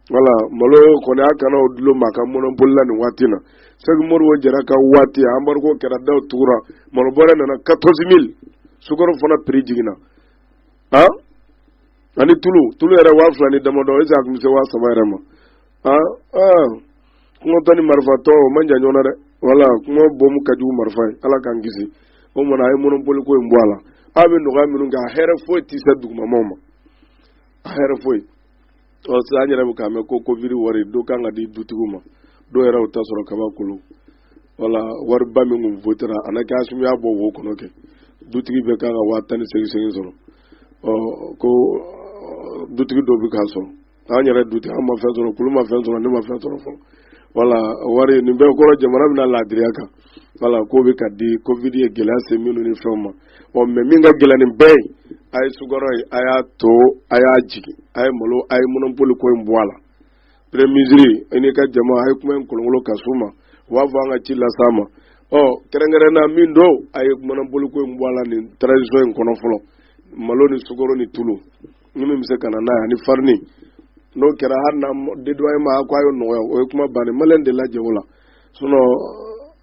wala malo kɔni a kana o dulo ma ka mɔnɔpoli la nin waati na sɛki modibo jara ka waati embargo kɛra daw tugura malo bɔrɛ nana quatorze mille sukaro fana prix jiginna han ani tulu tulu yɛrɛ waa fila ni damadɔ ese a tun bɛ se waa saba yɛrɛ ma aa aa kɔngɔtɔ ni marifatɔ o man jan ɲɔgɔn na dɛ wala kɔngɔ bɔmu ka jugu marifa ye ala k'an kisi o mana a ye mɔnɔpoli ko in bɔ a la aw bɛ nɔgɔya minnu kɛ a hɛrɛ foyi tɛ se dugumamaw ma a hɛrɛ foyi ɔ sisan an yɛrɛ bɛ k'a mɛn ko covid wari dɔ kan ka di dutigiw ma dɔw yɛrɛ y'o ta sɔrɔ kaban kulu wala wariba min kun votera a na kɛ asimi y'a bɔ wo kɔnɔ kɛ dutigi bɛɛ kan ka waa tan ni segin segin sɔrɔ ɔ ko dutigi dɔ bɛ k'a sɔrɔ an yɛrɛ dutigi an ma fɛn sɔrɔ kulu ma fɛn sɔrɔ ne ma fɛn sɔrɔ fɔlɔ wala wari nin bɛɛ kɔrɔ jamana bɛna laadiriya kan wala k'o bɛ ka di covid ye gɛlɛya se minnu ni fɛnw ma ɔ mais min ka gɛlɛn nin bɛɛ ye a ye sukɔrɔ ye a y'a to a y'a jigin a ye malo a ye mɔnɔpoli ko in bɔ a la premier ministre i n'i ka jama a ye kuma in kolonkolon ka s'u ma u b'a fɔ an ka ci las'a ma ɔ kɛrɛnkɛrɛnna min don a ye mɔnɔpoli ko in bɔ a la nin transition in kɔnɔ fɔlɔ malo ni sukɔrɔ ni tulu ni min bɛ se ka na n'a ye ani farini n'o kɛra hali n'a dédouanement ko a ye nɔgɔya o ye kuma bannen malien de lajɛ o la sinon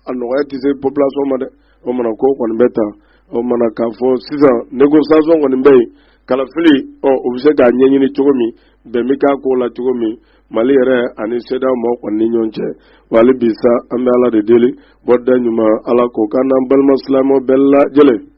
a nɔgɔya tɛ se population ma dɛ o mana ko kɔni bɛ ta o mana k'a fɔ sisan négociation kɔni bɛ yen kalafili ɔ o bɛ se k'a ɲɛɲini cogo min bɛn bɛ k'a ko la cogo min mali yɛrɛ ani sedaw mɔgɔ kɔni ni ɲɔgɔn cɛ wa hali bi sa an bɛ ala de deli bɔda ɲuman ala k'o k'an n'an balima silamɛw bɛɛ lajɛlen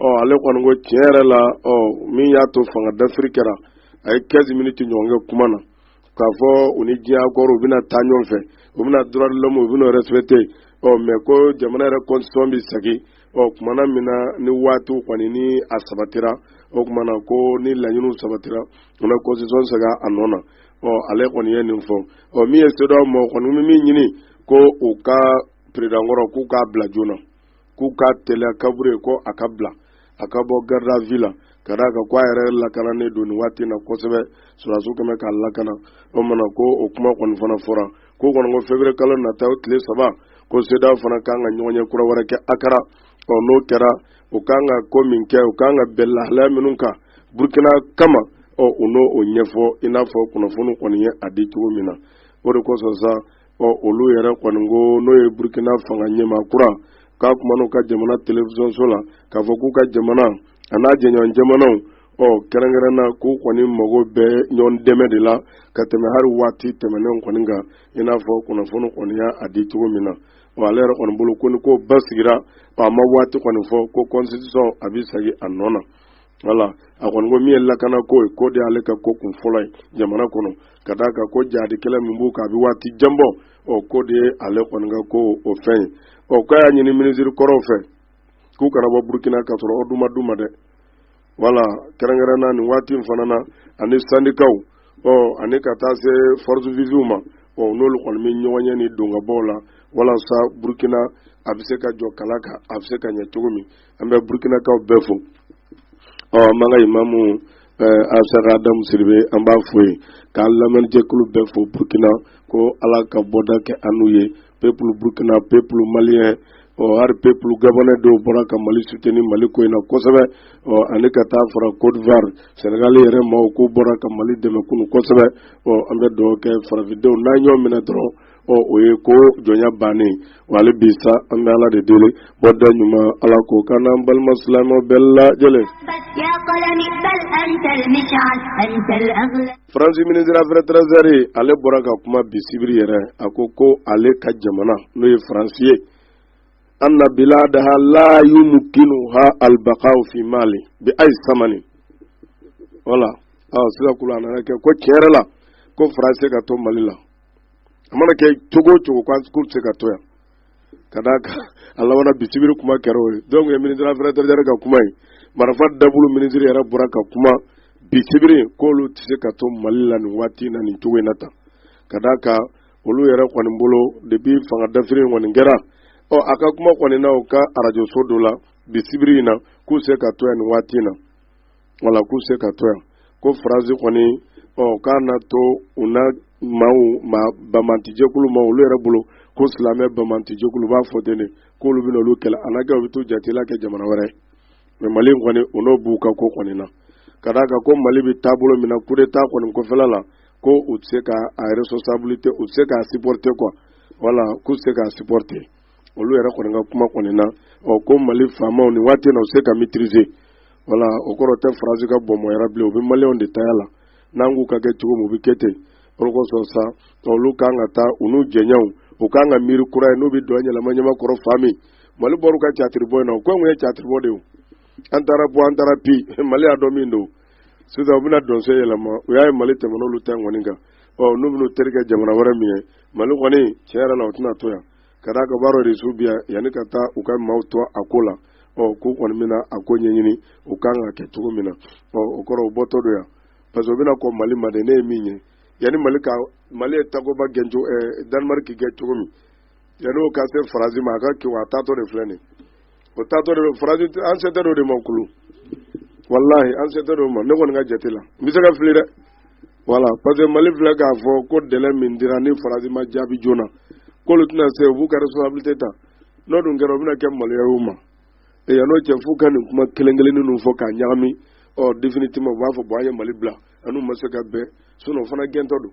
ɔ ale kɔni ko tiɲɛ yɛrɛ la ɔ min y'a to fanga dafiri kɛra a ye 15 miniti ɲɔgɔn kɛ kuma na k'a fɔ u ni diɲɛ akɔrɔ u bɛna taa ɲɔgɔn fɛ u bɛna droit de l'homme u bɛna respecté ɔ mais ko jamana yɛrɛ constitution bɛ sagi ɔ kuma na min na ni waatiw kɔni ni a sabatira o kuma na ko ni laɲiniw sabatira u na constitution sagi a nɔ na ɔ ale kɔni ye nin fɔ ɔ min ye sedaw maaw kɔni bɛ min ɲini ko u ka peredankɔrɔ k'u k'a bila joona k'u ka teliya kabore ko a ka bila a ka bɔ garde à vue la ka d'a kan ko a yɛrɛ lakananen don nin waati na kosɛbɛ sɔrɔdasiw kɛmɛ k'a lakana o mana ko o kuma kɔni fana fɔra ko kɔni ko feburuye kalo nata o tile saba ko sedaw fana kan ka ɲɔgɔnye kura wɛrɛ kɛ akara ɔ n'o kɛra u kan ka ko min kɛ u kan ka bɛn lahalaya minnu kan burkina kama ɔ u n'o o ɲɛfɔ i n'a fɔ kunnafoni kɔni y'a di cogo min na o de kosɔn sa ɔ olu yɛrɛ kɔni ko n'o ye burkina fanga ɲɛmaa kura ka kuma n'u ka jamana telefisɔnso la k'a fɔ k'u ka jamana a n'a jɛɲɔgɔn jamanaw ɔ kɛrɛnkɛrɛn na k'u kɔni mago bɛ ɲɔgɔn dɛmɛ de la ka tɛmɛ hali waati tɛmɛnenw kɔni kan i n'a fɔ kunnafoni kɔni y'a di cogo min na ɔ ale yɛrɛ kɔni bolo ko ni ko basigira ɔ a ma waati kɔni fɔ ko constitution a bɛ segin a nɔ na wala a kɔni ko min ye lakana ko ye k'o de y'ale ka ko kun fɔlɔ ye jamana kɔnɔ ka d'a kan ko jadi kɛlɛ min b'u kan a bɛ waati jan bɔ ɔ k'o de ye ale kɔni ka ko o fɛn ye ɔ k'a y'a ɲini minisiri kɔrɔw fɛ k'u kana bɔ burukina ka sɔrɔ o ma d'u ma dɛ wala kɛrɛnkɛrɛnna nin waati in fana na ani sandikaw ɔ ani ka taa se forces vives ma ɔ n'olu kɔni bɛ ɲɔgɔn ye ni dongabɔw la walasa burukina a bɛ se ka jɔ kala kan a bɛ se ka ɲɛ cogo min an bɛ burukinakaw bɛɛ fo ɔ an b'an ka imamu eh, asaka adamu siribe an b'a fo yen k'an lamɛnjɛkulu bɛɛ fo burukina ko ala ka bɔda kɛ an n'u ye pepulu burukina pepulu maliyɛn ɔ hali pepulu gabɔnɛ dɔw bɔra ka mali suteni mali ko in na kosɛbɛ ɔ ani ka taa fara côte d'ivoire senegal yɛrɛ maaw k'u bɔra ka mali dɛmɛ kunu kosɛbɛ ɔ an bɛ dugawu kɛ farafindenw n'an ɲɔgɔn minɛ dɔrɔn ɔ o ye ko jɔnya bannen wa hali bi sa an bɛ ala de deli bɔda ɲuman ala k'o k'an n'an balima silamɛ bɛɛ lajɛlen. faransi ministre affaires étrangères ale bɔra ka kuma bi sibiri yɛrɛ a ko ko ale ka jamana n'o ye faransi ye. anna biladaha la yumkinuha albaqa'u fi mali bi ay samani wala aw sira kula nana kɛ ko tiɲɛ yɛrɛ la ko faransi ka to mali la a mana kɛ cogo o cogo k'u tɛ se ka to yan ka d'a kan a labanna bi sibiri kuma kɛra o ye donc ye ministre affaires étrangères ka kuma ye marifa dabulu ministre yɛrɛ bɔra ka kuma bi sibiri k'olu tɛ se ka to mali la nin waati in na nin cogo in na tan ka d'a kan olu yɛrɛ kɔni bolo depuis fanga dafiri in kɔni kɛra ɔ a ka kuma kɔni na u ka arajoso dɔ la bi sibiri in na k'u tɛ se ka to yan nin waati in na wala k'u tɛ se ka to yan ko faransi kɔni ɔ k'a na to u na maaw ma banbagancijɛkulu ma olu yɛrɛ bolo ko silamɛ banbagancijɛkulu b'a fɔ ten de k'olu bɛna olu kɛlɛ a n'a kɛ u bɛ t'u jatigila kɛ jamana wɛrɛ ye mais mali in kɔni u n'o b'u ka ko kɔni na ka d'a kan ko mali bɛ taabolo min na kudeta kɔni kɔfɛla la ko u tɛ se k'a responsabilité u tɛ se k'a supporter quoi wala k'u tɛ se k'a supporter olu yɛrɛ kɔni ka kuma kɔni na ɔ ko mali faamaw nin waati na u se ka maîtriser voilà o kɔrɔ tɛ faransi ka bɔnbɔnyara bilen u bɛ maliyɛnw de taya la n'an k'u ka kɛ cogo min u bɛ kɛ ten o de kosɔn sa olu kan ka taa u n'u jɛɲɔgɔnw u kan ka miiri kura ye n'u bɛ dɔn yɛlɛma ɲɛma kɔrɔ fa min mali bɔr'u ka catiribɔ in na u ko anw ye catiribɔ de ye an taara bɔ an taara bi mali y'a dɔn min don sisan u bɛna dɔnsen yɛlɛma u y'a ye mali tɛmɛna olu ta in kɔni kan ɔ n'u bɛn'u terikɛ jamana wɛrɛ min ye mali kɔni tiɲɛ yɛrɛ la u tɛna to yan ka d'a kan baara de su biyan yanni ka taa u ka maaw to a ko la ɔ k'u kɔni bɛna a ko ɲɛɲini u kan ka kɛ cogo min na ɔ o kɔrɔ u bɔtɔ don yan parce que u bɛna kɔn mali ma de ne ye min ye yanni mali ka mali ye takuba gɛn cogo ɛɛ eh, danemariki gɛn cogo min yanni o ka se faransi ma a ka kiwa a taatɔ de filɛ nin ye o taatɔ de don faransi an sɛtɛ dɔ de ma kulu walahi an sɛtɛ dɔ ma ne kɔni ka jate la n bɛ se ka fili dɛ voilà parce que mali filɛ k'a fɔ ko délai min dira ni faransi ma jaabi joona k'olu tɛna se u b'u ka responsabilité ta n'o dun kɛra o bɛna kɛ maloya y'u ma e yanni o cɛ f'u ka nin kuma kelen kelennin ninnu fɔ k'a ɲagami ɔ définitivement u b'a fɔ bon an ye mali bila an n'u ma se ka bɛn sinon o fana gɛntɔ don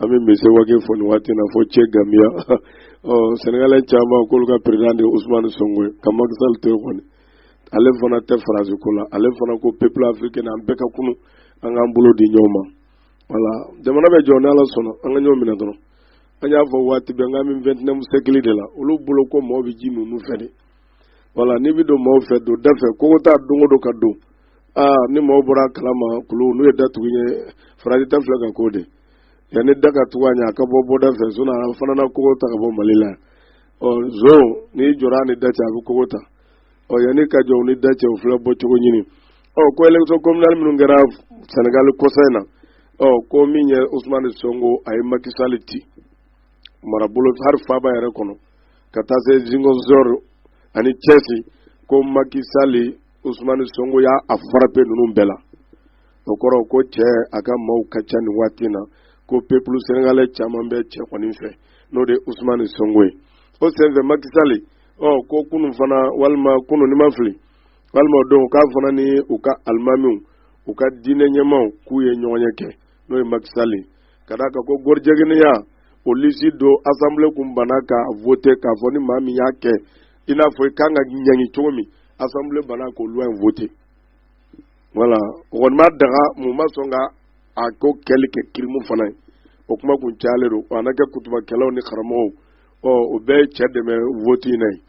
an bɛ monsieur wage fo nin waati na fo cɛ gamiya ɔ sɛnɛgalɛ caman k'olu ka perezidan de ye usumani sonko ye ka makisali to yen kɔni ale fana tɛ faransi ko la ale fana ko peuple africain an bɛɛ ka kunun an k'an bolo di ɲɔgɔn ma voilà jamana bɛ jɔ ni ala sɔnna an ka ɲɔgɔn minɛ dɔrɔn an y'a fɔ waati bɛɛ n k'an bɛ vingt-et-unième siècle de la olu bolo ko mɔgɔw bɛ ji min nun fɛ de voilà n'i bɛ don mɔgɔw fɛ don da fɛ kogo ta don o don ka don aa ni maaw bɔr'a kala ma kulu n'u ye da tugu yen faransi ta filɛ ka ko de yanni da ka tugu a ɲɛ a ka bɔ bɔda fɛ sinon a fana na kogo ta ka bɔ mali la ɔ zon n'i jɔr'a ni da cɛ a bɛ kogo ta ɔ yanni ka jɔ ni da cɛ o filɛ bɔ cogo ɲini ɔ ko élection communale minnu kɛra senegal kɔsa in na ɔ ko min ye usman sonko a ye makisali ci marabolo hali faaba yɛrɛ kɔnɔ ka taa se ziguinchor ani thiès ko makisali usumani sonko y'a frapper ninnu bɛɛ la o kɔrɔ ko cɛ a ka maaw ka ca nin waati na ko peuple sénégalais caman bɛ cɛ kɔni fɛ n'o de usumani sonko ye o senfɛ makisali ɔ ko kunun fana walima kunun ni n ma fili walima o don k'a fana ni u ka alimamiw u ka diinɛ ɲɛmaw k'u ye ɲɔgɔnye kɛ n'o ye makisali ka d'a kan ko gɔrijigɛnya o lisi don assemblée kun banna ka voter k'a fɔ ni maa min y'a kɛ i n'a fɔ i kan ka ɲangi cogo min assemblée banna ko loi in voter voilà o kɔni m'a daga mais u ma sɔn ka a ko kɛli kɛ crime fana ye o kuma kun cayalen don a na kɛ kutubakɛlaw ni karamɔgɔw ɔ o bɛɛ ye cɛ dɛmɛ voti in na yen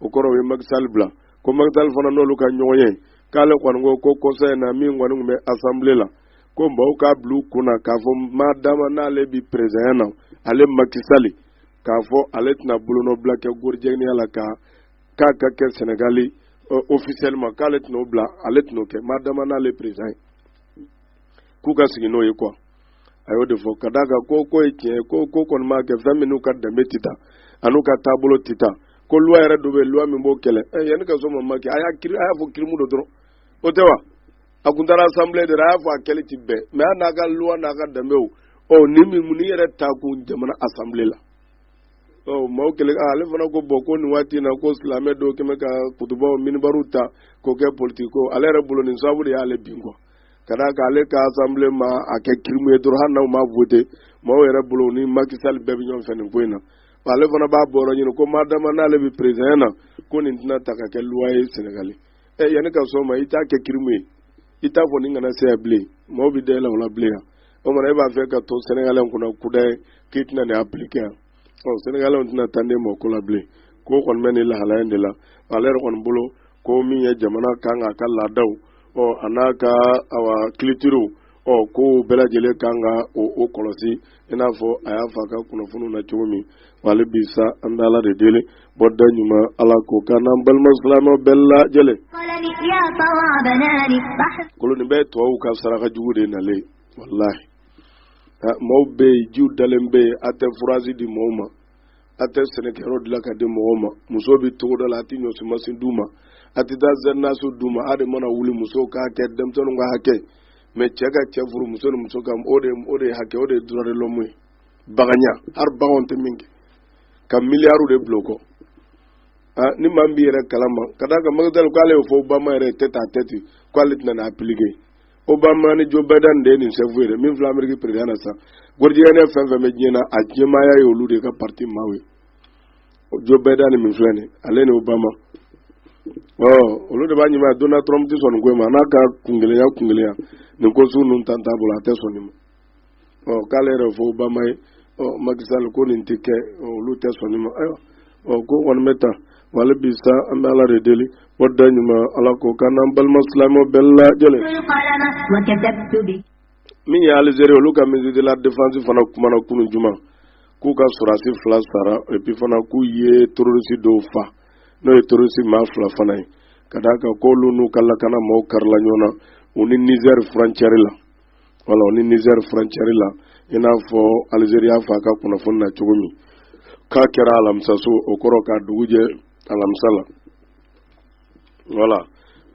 o kɔrɔ o ye makisali bila ko makisali fana n'olu ka ɲɔgɔnye k'ale kɔni ko ko kɔsa in na min kɔni tun bɛ assemblée la ko mɔgɔw k'a bila u kun na k'a fɔ maa dama n'ale bi perezidanya na ale makisali k'a fɔ ale tɛna bolonɔbila kɛ gɔrijigɛniya la kan k'a ka kɛ sɛnɛgali officiellement k'ale tɛna'o bila ale tɛna'o kɛ madama n'ale perezidan ye k'u ka sigi n'o ye kuwa a y'o de fɔ ka d'a kan ko ko ye tiɲɛ ko ko kɔni b'a kɛ fɛn min n'u ka danbe tɛ taa a n'u ka taabolo tɛ taa ko luwa yɛrɛ dɔ bɛ luwa min b'o kɛlɛ ɛ yanni ka so ma ma kɛ a y'a a y'a fɔ kirimu don dɔrɔn o tɛ wa a tun taara asanbile de la a y'a fɔ a kɛli tɛ bɛn mɛ hali n'a ka luwa n'a ka danbew ɔ ni min mun ni yɛrɛ ta kun jamana asanbile la ɔ maaw kɛlɛ ale fana ko bon ko nin waati in na ko silamɛ dɔw kɛn bɛ ka kutubaw minibariw ta k'o kɛ politiki ko ale yɛrɛ bolo nin sababu de y'ale bin kuwa ka d'a kan ale ka asanbile ma a kɛ kirimu ye dɔrɔn hali n'a ma vote maaw yɛrɛ bolo ni macky sall bɛɛ bɛ ɲɔgɔn fɛ nin ko in na ale fana b'a bɔyɔrɔ ɲini ko madama n'ale bɛ perezidan na ko nin tɛna ta ka kɛ luwa ye sɛnɛgali ɛ yanni ka sɔn o ma i t'a kɛ kirimu ye i t'a fɔ nin kana se yan bilen mɔgɔw bɛ da yɛlɛ o la bilen yan o maana e b'a fɛ ka to sɛnɛgali kunna kudayi k'i tɛna nin apilike yan ɔ sɛnɛgalɛw tɛna taa ne ma o ko la bilen ko kɔni bɛ nin lahalaya in de la ale yɛrɛ kɔni bolo ko min ye jamana kan k'a ka laadaw ɔ a n'a ka awa kilitiriw ɔ k'o bɛɛ lajɛlen kan ka o o kɔlɔsi i n'a fɔ a y'a f'a ka kunnafoniw na cogo min wala bi sa an bɛ ala de deli bɔda ɲuman ala k'o k'an n'an balima silamɛ bɛɛ lajɛlen. koloni bɛɛ tubabuw ka saraka jugu de nalen walahi maaw bɛ yen jiw dalen bɛ yen a tɛ furazi di maaw ma. a tɛ sɛnɛkɛyɔrɔ dilan ka di mɔgɔw ma muso bɛ togoda la a tɛ ɲɔsimasin d'u ma a tɛ taa zɛrinaso d'u ma a de mana wuli muso ka hakɛ denmisɛnninw ka hakɛ mɛ cɛ ka cɛ furu muso ni muso ka o de o de hakɛ o de ye droit de l'homme ye baganya hali baganw tɛ min kɛ ka miliyariw de bila o kɔ ah ni maa min b'i yɛrɛ kalama ka d'a kan macky sall k'ale y'o fɔ obama yɛrɛ tête-à-tête k'ale tɛna n'a appliquer obama ni joe biden de nin sɛfu yɛrɛ min filɛ ameriki perezidan na sisan gɔrijigɛni fɛn fɛn bɛ diɲɛ na a ɲɛmaaya ye olu de ka parti maaw ye joe biden min filɛ nin ale ni obama ɔ olu de b'a ɲɛmaya donald trump tɛ sɔn nin ko in ma n'a ka kungɛlɛya kungɛlɛya nin ko sugu ninnu tan t'a bolo a tɛ sɔn nin ma ɔ k'ale yɛrɛ fɔ obama ye ɔ macky sall ko nin tɛ kɛ olu tɛ sɔn nin ma ayiwa ɔ ko kɔni bɛ tan wala bi sa an bɛ ala de deli bɔda ɲuman ala k'o k'an n'an balima silamɛw bɛɛ lajɛlen. min ye alizeri olu ka ministre de la défense fana kumana kunun juma k'u ka sɔrɔdasi fila sara epi fana k'u ye terorisi dɔw fa n'o ye terorisi maa fila fana ye ka d'a kan k'olu n'u ka lakana maaw karila ɲɔgɔn na u ni nizɛri furancɛri la wala u ni nizɛri furancɛri la i n'a fɔ alizeri y'a f'a ka kunnafoni na cogo min k'a kɛra alamisa su o kɔrɔ k'a dugu jɛ alamisa la wala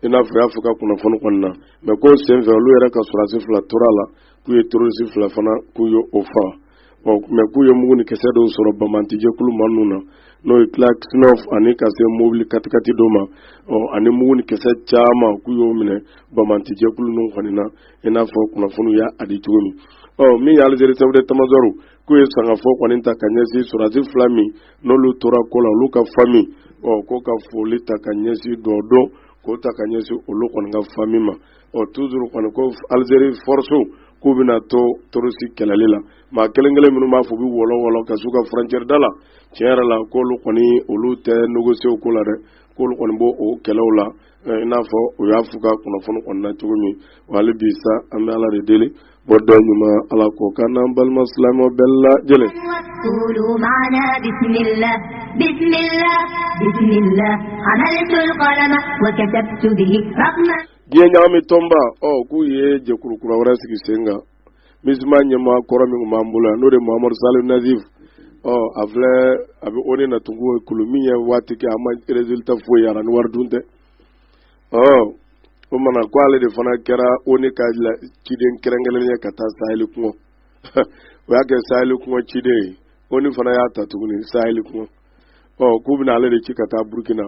i n'a fɔ a y'a f'a ka kunnafoni kɔni na mɛ ko senfɛ olu yɛrɛ ka sɔrɔdasi fila tor'a la k'u ye terorisi fila fana k'u ye o faga bon mais k'u ye mugu ni kisɛ dɔw sɔrɔ banbaanci jɛkulu maa ninnu na n'o ye kalasinikɔf ani ka se mobili katikati dɔ ma ɔ ani mugu ni kisɛ caman k'u y'o minɛ banbaanci jɛkulu ninnu kɔni na i n'a fɔ kunnafoniw y'a di cogo min ɔ min ye alizeri chef d'état-major k'u ye sangafo kɔni ta ka ɲɛsin sɔrɔdasi fila min n'olu tora ko la olu ka fami ɔ ko ka foli ta ka ɲɛsin dɔ dɔn k'o ta ka ɲɛsin olu kɔni ka fami ma ɔ toujours kɔni ko alizeri fɔrɔsiw k'u bɛna to terɔrisi kɛlɛli la maa kelen kelen minnu b'a fɔ u bɛ wɔlɔ wɔlɔ ka s'u ka furancɛri da la tiɲɛ yɛrɛ la k'olu kɔni olu tɛ négocier ko la dɛ k'olu kɔni b'o o kɛlɛw la i n'a fɔ u y'a f'u ka kunnafoni kɔnɔna cogo min wa hali bi sa an bɛ ala de deli Bɔda ɲuman ala k'o k'an n'an balima silamɛ bɛɛ lajɛlen diɲɛ ɲagami tɔnba ɔ k'u ye jɛkulu kura wɛrɛ sigi sen kan minisima ɲɛmaa kɔrɔ min tun b'an bolo yan n'o de mamadu saleh annadif a filɛ a bɛ oni na tugun kulu min ye waati kɛ a ma résultat foyi yira ni wari dun tɛ o mana ko ale de fana kɛra oni ka ciden kɛrɛnkɛrɛn ye ka taa saheli kungo o y'a kɛ saheli kungo ciden ye oni fana y'a ta tuguni saheli kungo ɔ k'u bɛna ale de ci ka taa burukina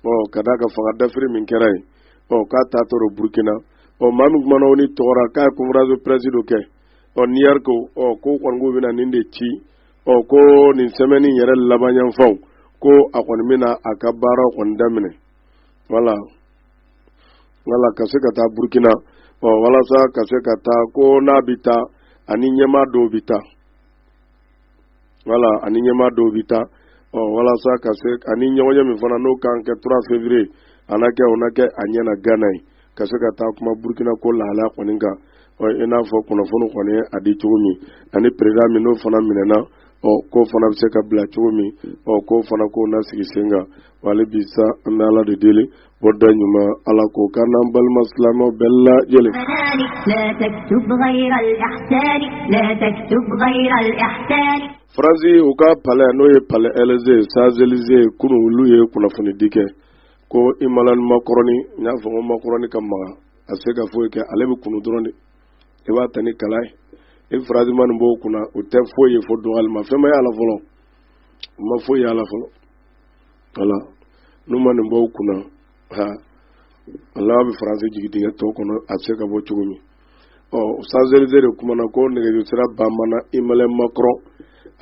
ɔ ka d'a kan fanga dafiri min kɛra yen ɔ k'a ta tɔrɔ burukina ɔ maa min kumana oni tɔgɔ ra k'a ye konferansi pɛrɛsi dɔ kɛ ɔ new york ɔ ko kɔni k'u bɛna nin de ci ɔ ko nin sɛmɛni yɛrɛ laban yanfanw ko a kɔni bɛna a ka baara kɔni daminɛ wala wala ka se ka taa burkina ɔ walasa ka se ka taa ko n'a bɛ taa a ni ɲɛmaa dɔw bɛ taa wala a ni ɲɛmaa dɔw bɛ taa ɔ walasa ka se ani ɲɔgɔnye min fana n'o kan kɛ 3 février a na kɛ o na kɛ a ɲɛna gana yen ka se ka taa kuma burkina ko lahalaya kɔni kan i n'a fɔ kunnafoni kɔni a di cogo min ani peresidan min n'o fana minɛna ɔ k'o fana bɛ se ka bila cogo min ɔ k'o fana k'o na sigi sen kan wa hali bi sa an bɛ ala de deli bɔ da ɲuman ala k'o k'an n'an balima silamɛw bɛɛ lajɛlen faransi u ka palais n'o ye palais élysée champs-élysées kunun olu ye kunnafonidi kɛ ko emmanuel macron n y'a fɔ ko macron ka maga a se ka foyi kɛ ale bɛ kunu dɔrɔn de i b'a ta ni kala ye i faransi maa nin b'o kunna o tɛ foyi ye fo dɔgɔlima fɛn ma y'a la fɔlɔ o ma foyi y'a la fɔlɔ wala n'u maa nin b'o kunna ha ala bɛ faransi jigin dingɛ dɔ kɔnɔ a bɛ se ka bɔ cogo min ɔ champs-élysées de kumana ko nɛgɛjuru sira banbana emmanuel macron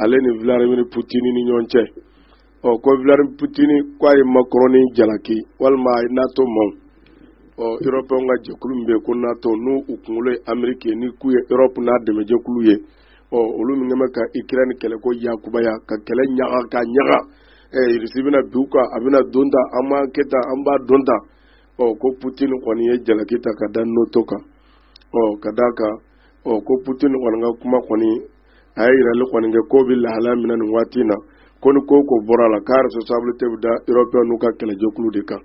ale ni vladimir putin ni ɲɔgɔn cɛ ɔ ko vladimir putin k'a ye macron ni jalaki walima a ye nato maaw ɔ erɔpɛnw ka jɛkulu min bɛ yen ko nato n'u u kunkolo ye ameriki ni k'u ye erɔpu n'a dɛmɛjɛkulu ye ɔ olu min bɛ ka ikirɛni kɛlɛ ko yakubaya ka kɛlɛ ɲaga ka ɲaga ɛ irisi bɛna bin u kan a bɛna don tan an b'a kɛ tan an b'a don tan ɔ ko putin kɔni ye jalaki ta ka da nato kan ɔ ka d'a kan ɔ ko putin kɔni ka kuma kɔni a ye yirali kɔni kɛ ko bɛ lahala min na nin waati in na ko ni ko ko bɔra a la k'a responsabilité bɛ da européenw ka kɛlɛjɛkulu de kan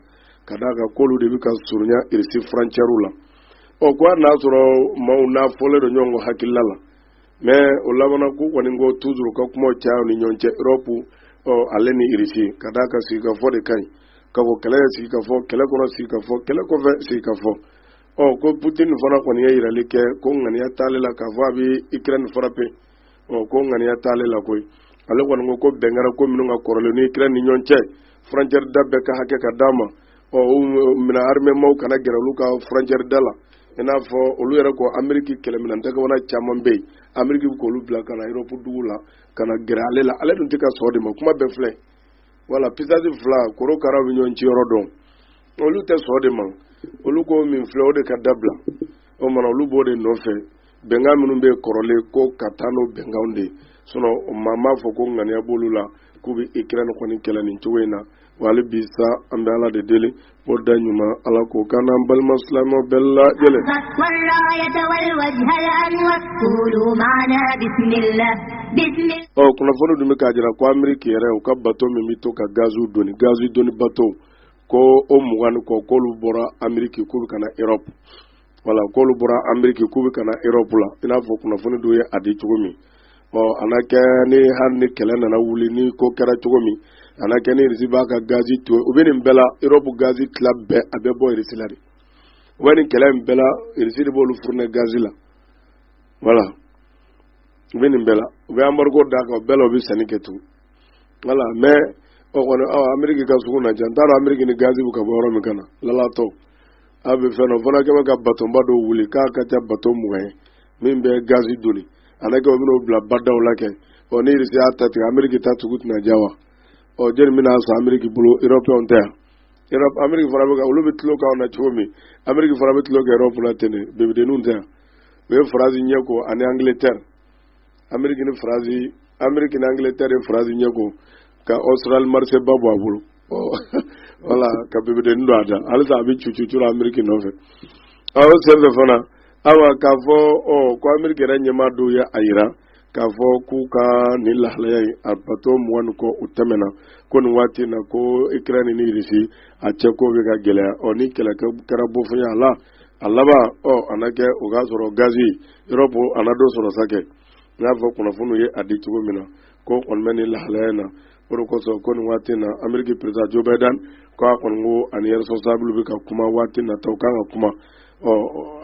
ka d'a kan k'olu de bɛ ka surunya irisi furancɛri la ɔ ko i n'a sɔrɔ maaw n'a fɔlen don ɲɔgɔn kɔ hakilila la mɛ o laban na ko kɔni ko tuzuru ka kuma caya u ni ɲɔgɔn cɛ erɔpu ɔ ale ni irisi ka d'a kan sigikafɔ de ka ɲi ka kɔn kɛlɛ ɲɛ sigikafɔ kɛlɛ kɔnɔ sigikafɔ kɛlɛ kɔfɛ sigikafɔ ɔ ko putin fana kɔni ye yirali kɛ ko ŋaniya t'ale la k'a fɔ a bɛ ikirɛni farape ɔ ko ŋaniya t'ale la koyi ale kɔni ko ko bɛn kɛra ko minnu kan kɔrɔlen ni ikirɛni ni ɲɔgɔn cɛ furancɛri da bɛɛ ka hakɛ ka d'a ma ɔ minɛn arimɛmaw kana gɛrɛ olu ka furancɛri da la i n'a fɔ olu yɛrɛ ko ameriki kɛlɛminɛn dakabana caman bɛ yen ameriki bɛ k'olu bila ka na erɔpu dugu la ka na gɛrɛ ale la ale dun tɛ ka sɔn o de ma kuma bɛɛ filɛ wala pisansi fila korokaraw bɛ ɲɔgɔn cin yɔrɔ dɔn olu tɛ sɔn o de ma olu ko min filɛ o de ka dabila o mana olu b'o de nɔfɛ bɛnkan minnu bɛ kɔrɔlen ko ka taa n'o bɛnkanw de sinɔn maa m'a fɔ ko ŋaniya b'olu la k'u bɛ ikirɛni kɔni kɛlɛ nin cogo in na wa hali bi sa an bɛ ala de deli o da ɲuman ala ko kana an balima silamɛw bɛɛ lajɛlen ɔ kunnafoni dun bɛ k'a jira ko ameriki yɛrɛ u ka bato min bɛ to ka gaziw doni gazi doni bato ko o mugan ni kɔ k'olu bɔra ameriki k'u bɛ ka na erɔpu wala k'olu bɔra ameriki k'u bɛ ka na erɔpu la i n'a fɔ kunnafoni dɔw ye a di cogo min ɔ a na kɛ ni hali ni kɛlɛ nana wuli ni ko kɛra cogo min a na kɛ ni irisi b'a ka gazi to u bɛ nin bɛɛ la erɔpu gazi tila bɛɛ a bɛ bɔ irisi la de u bɛ nin kɛlɛ in bɛɛ la irisi de b'olu furuni gazi la wala u bɛ nin bɛɛ la u bɛ anbarigo d'a kan o bɛɛ la u bɛ sanni kɛ tugun wala mɛ o kɔni ɔ ameriki ka sugu na diya n t'a dɔn ameriki ni gazi bɛ ka bɔ yɔrɔ min ka na lalatɔ a bɛ fɛn dɔ fana kɛ mɛ ka batonba dɔw wuli k'a ka ca bato mugan ye min bɛ gazi doni a na kɛ u bɛn'o bila badaw la kɛ ɔ ni irisi y'a ta tigɛ ameriki ta sugu tɛna diya wa ɔ jeli bɛna san ameriki bolo erɔpɛnw tɛ yan ameriki fana bɛ ka olu bɛ tulon k'anw na cogo min ameriki fana bɛ tulon kɛ erɔpu la ten de bebedenninw tɛ yan u ye faransi ɲɛ ko ani angiletɛri ameriki ni faransi ameriki ni angiletɛri ye faransi ɲɛ ko ka australie marché ba bɔ a bolo wala ka bebedenin don a da halisa a bɛ cucu la ameriki nɔfɛ a y'o senfɛ fana awa k'a fɔ ɔ ko ameriki yɛrɛ ɲɛmaa dɔw ye a yira k'a fɔ k'u ka nin lahalaya in a bato mugan ni kɔ u tɛmɛna ko nin waati na ko ikirɛni ni irisi a cɛ ko bɛ ka gɛlɛya ɔ ni kɛlɛ kɛra bofonya la a laban ɔ a na kɛ o k'a sɔrɔ gazi europe a na dɔ sɔrɔ sa kɛ n y'a fɔ kunnafoniw ye a di cogo min na ko kɔni bɛ nin lahalaya in na o de kosɔn ko nin waati in na ameriki président joe biden ko a kɔni ko ani responsablew bɛ ka kuma waati nataw kan ka kuma ɔ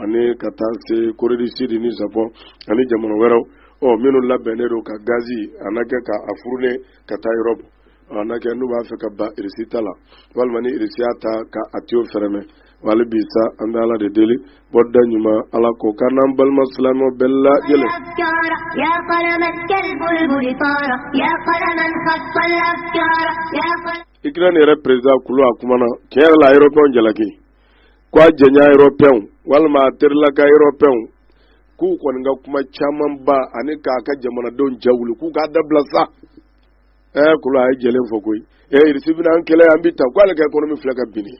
ani ka taa se corée du sud ni japon ani jamana wɛrɛw ɔ minnu labɛnnen don ka gazi a na kɛ ka a fournir ka taa europe a na kɛ n'u b'a fɛ ka ban irisi ta la walima ni irisi y'a ta ka a tiyo fɛrɛmɛ wali bi sa an bɛ ala de deli bɔda ɲuman ala k'o k'an n'an balima silamɛ bɛɛ lajɛlen. ikirɛni yɛrɛ président kulu a kumana tiɲɛ yɛrɛ la a européenw jalaki ko a jɛnya européenw walima a terilaka européenw k'u kɔni ka kuma caman ba ani k'a ka jamanadenw jawuli k'u k'a dabila sa ɛɛ kulu a ye jɛlen fɔ koyi ee irisi bɛna an kɛlɛ an bɛ ta k'ale ka économie filɛ ka binni.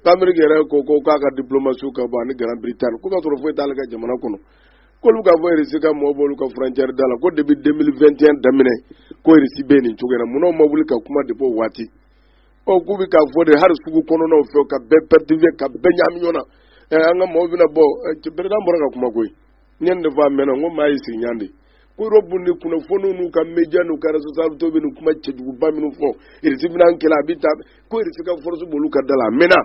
k'ameriki yɛrɛ ko ko k'a ka diplomatie ka bɔ ani grande bretagne ko k'a sɔrɔ foyi t'ale ka jamana kɔnɔ k'olu k'a fɔ irisi ka mɔgɔ b'olu ka frontière da la ko depuis 2021 daminɛ ko irisi bɛ nin cogo na munna u ma wuli ka kuma de b'o waati ɔ k'u bɛ k'a fɔ de hali sugu kɔnɔnaw fɛ ka bɛɛ perturber ka bɛɛ ɲaami ɲɔgɔn na an ka mɔgɔw bɛna bɔ président bɔra ka kuma koyi nin de fɔ a mɛnna n ko maa y'i sigi ɲan de ko europe ni kunnafoniw n'u ka media n'u ka réseaux sociaux bɛ nin kuma cɛjuguba minnu fɔ irisi bɛna an kɛlɛ a bɛ taa ko irisi ka force b'olu ka da la a mɛnna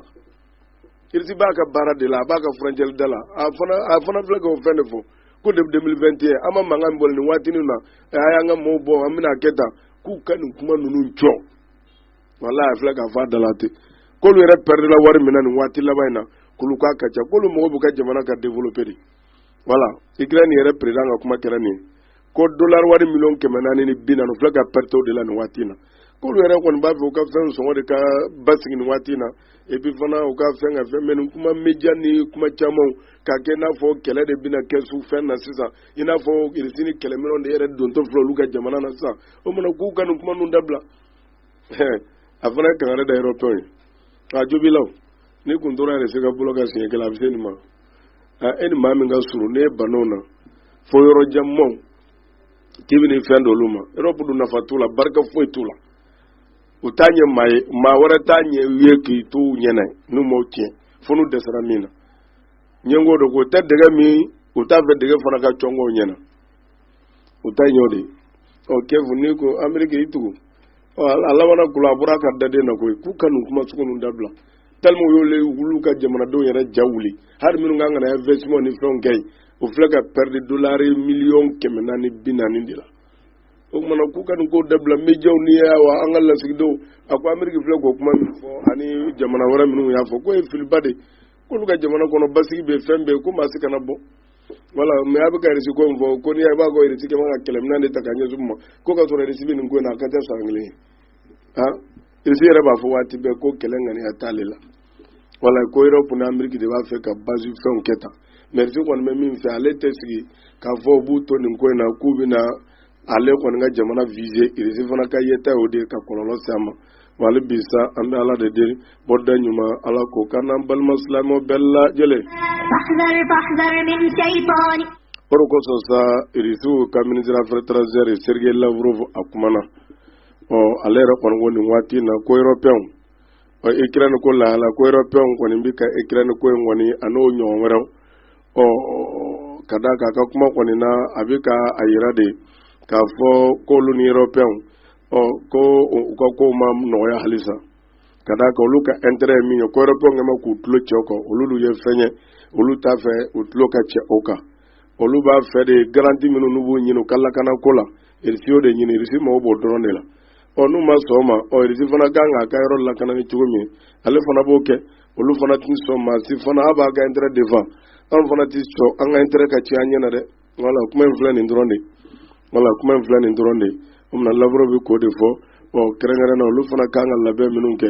irisi b'a ka baara de la a b'a ka frontière da la a fana a fana filɛ ka o fɛn de fɔ ko depuis 2021 an ma mankan min bɔ nin waatinin na a y'an ka mɔɔw bɔ an bɛna a kɛ tan k'u ka nin kuma ninnu jɔ wala a filɛ k'a fɔ a da la ten k'olu yɛrɛ pɛrɛdila wari min na nin waati laban in na k'olu k'a ka ca k'olu mɔgɔ b'u ka jamana ka développer de voilà ikirɛni yɛrɛ président ka kuma kɛra nin ko dola wari miliyɔn kɛmɛ naani ni bi naani filɛ ka perte o de la nin waati in na k'olu yɛrɛ kɔni b'a fɛ u ka fɛn sɔngɔ de ka basigi nin waati in na et puis fana u ka fɛn ka fɛn mais nin kuma média ni kuma camanw k'a kɛ i n'a fɔ kɛlɛ de bɛna kɛ su fɛn na sisan i n'a fɔ irisi ni kɛlɛminɛw de yɛrɛ dontɔ filɛ olu ka jamana na sisan o mana k'u ka nin kuma ninnu dabila a fana ye kangari da européenw ye a jobilaw ni kun tora yɛrɛ se ka bolo ka siɲɛ kelen a bɛ se nin ma a e ni maa min ka surun n'e bana o na fo yɔrɔ janmanw k'i bɛ nin fɛn d'olu ma yɔrɔpu dun nafa t'u la barika foyi t'u la u t'a ɲɛ maa ye maa wɛrɛ t'a ɲɛ u ye k'i to u ɲɛna n'u m'o tiɲɛ fo n'u dɛsɛra min na ɲɛngo don k'u tɛ dɛgɛ min u t'a fɛ dɛgɛ fana ka cɔngɔw ɲɛna u ta ɲɔ de ɔ kiyɛfu n'i ko ameriki i tugu ɔ a labanna kula a bɔra a ka daden na koyi k'u ka nin kuma sugu ninnu dabila tellement y'olu olu ka jamanadenw yɛrɛ ja wuli hali minnu kan ka na investissement ni fɛnw kɛ yen u filɛ ka pɛridi dolari miliyɔn kɛmɛ naani bi naani de la o tumana k'u ka nin ko dabila mejaw ni wa an ka lasigidenw a ko ameriki filɛ k'o kuma min fɔ ani jamana wɛrɛ minnu y'a fɔ k'o ye filiba de k'olu ka jamana kɔnɔ basigi bɛ fɛn bɛɛ ko maa si kana bɔ wala mɛ a bɛ ka irisi ko min fɔ ko n'i y'a b'a ko irisi kɛ man ka kɛlɛminɛn de ta ka ɲɛsin ma ko k'a sɔrɔ irisi bɛ nin ko in na a ka ca san kelen ye ah irisi yɛrɛ b'a fɔ waati bɛɛ ko kɛlɛ ŋaniya t'ale la wala ko yɔrɔpu ni ameriki de b'a fɛ ka bazi fɛnw kɛ tan mɛ irisi kɔni bɛ min fɛ ale tɛ sigi k'a fɔ u b'u to nin ko in na k'u bɛna ale kɔni ka jamana vize irisi fana ka yen ta o de ka kɔlɔlɔ se a ma wa hali bi sa an bɛ ala de deli bɔda ɲuman ala k'o k'an n'an balima silamɛw bɛɛ lajɛlen o de kosɔn sa irisiw ka minisiri afɛri etaranzɛri sergei lavrov a kumana ɔ ale yɛrɛ kɔni ko nin waati in na ko yɔrɔpɛnw ɔ ikirɛni ko lahala ko yɔrɔpɛnw kɔni bɛ ka ikirɛni ko in kɔni a n'o ɲɔgɔn wɛrɛw ɔ ka d'a kan a ka kuma kɔni na a bɛ ka a yira de k'a fɔ k'olu ni yɔrɔpɛnw ɔ ko u ka kow ma nɔgɔya halisa ka d'a kan olu ka intérêt ye min ye ko yɔrɔpɛnw kɛ ma k'u tulo cɛ o kan olu dun ye fɛn ye olu t'a fɛ u tulo ka cɛ o kan olu b'a fɛ de garanti minnu n'u b'u ɲini u ka lakana ko la irisi y'o de ɲini irisi mago b'o dɔrɔn de la ɔ n'u ma sɔn o ma ɔ irisi fana kan k'a ka yɔrɔ lakana ni cogo min ale fana b'o kɛ olu fana tɛ sɔn maa si fana a b'a ka intérêt defan an fana tɛ sɔn an ka intérêt ka tiɲɛ an ɲɛ na dɛ wala kuma in filɛ nin dɔrɔn de wala kuma in filɛ nin dɔrɔn de o mina lavrov bɛ k'o de fɔ ɔ kɛrɛnkɛrɛn na olu fana kan ka labɛn minnu kɛ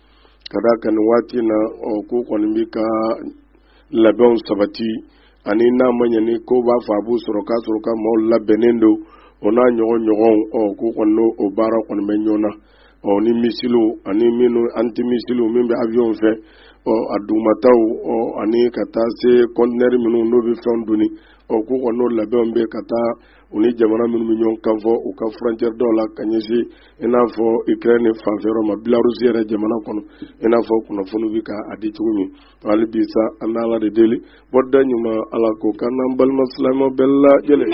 ka d'a kan nin waati na ɔ k'u kɔni bɛ ka labɛnw sabati ani n'a ma ɲɛ ni ko b'a fɔ a b'u sɔrɔ k'a sɔrɔ ka maaw labɛnnen don o n'a ɲɔgɔn ɲɔgɔnw ɔ k'u kɔni n'o baara kɔni bɛ ɲɔgɔn na ɔ ni misiliw ani minnu antimisiliw min bɛ awiyɔnw fɛ ɔ a dugumataw ɔ ani ka taa se kɔntinɛri minnu n'o bɛ fɛnw doni ɔ k'u kɔni n'o labɛnw bɛ ka taa u ni jamana minnu bɛ ɲɔgɔn kan fɔ u ka furɔntiyɛri dɔw la ka ɲɛsin i n'a fɔ ukraine fanfɛ yɔrɔ ma bilarusi yɛrɛ jamana kɔnɔ i n'a fɔ kunnafoni bɛ ka a di cogo min hali bi sa an bɛ ala de deli bɔda ɲuman ala k'o k'an n'an balima silamɛw bɛɛ lajɛlen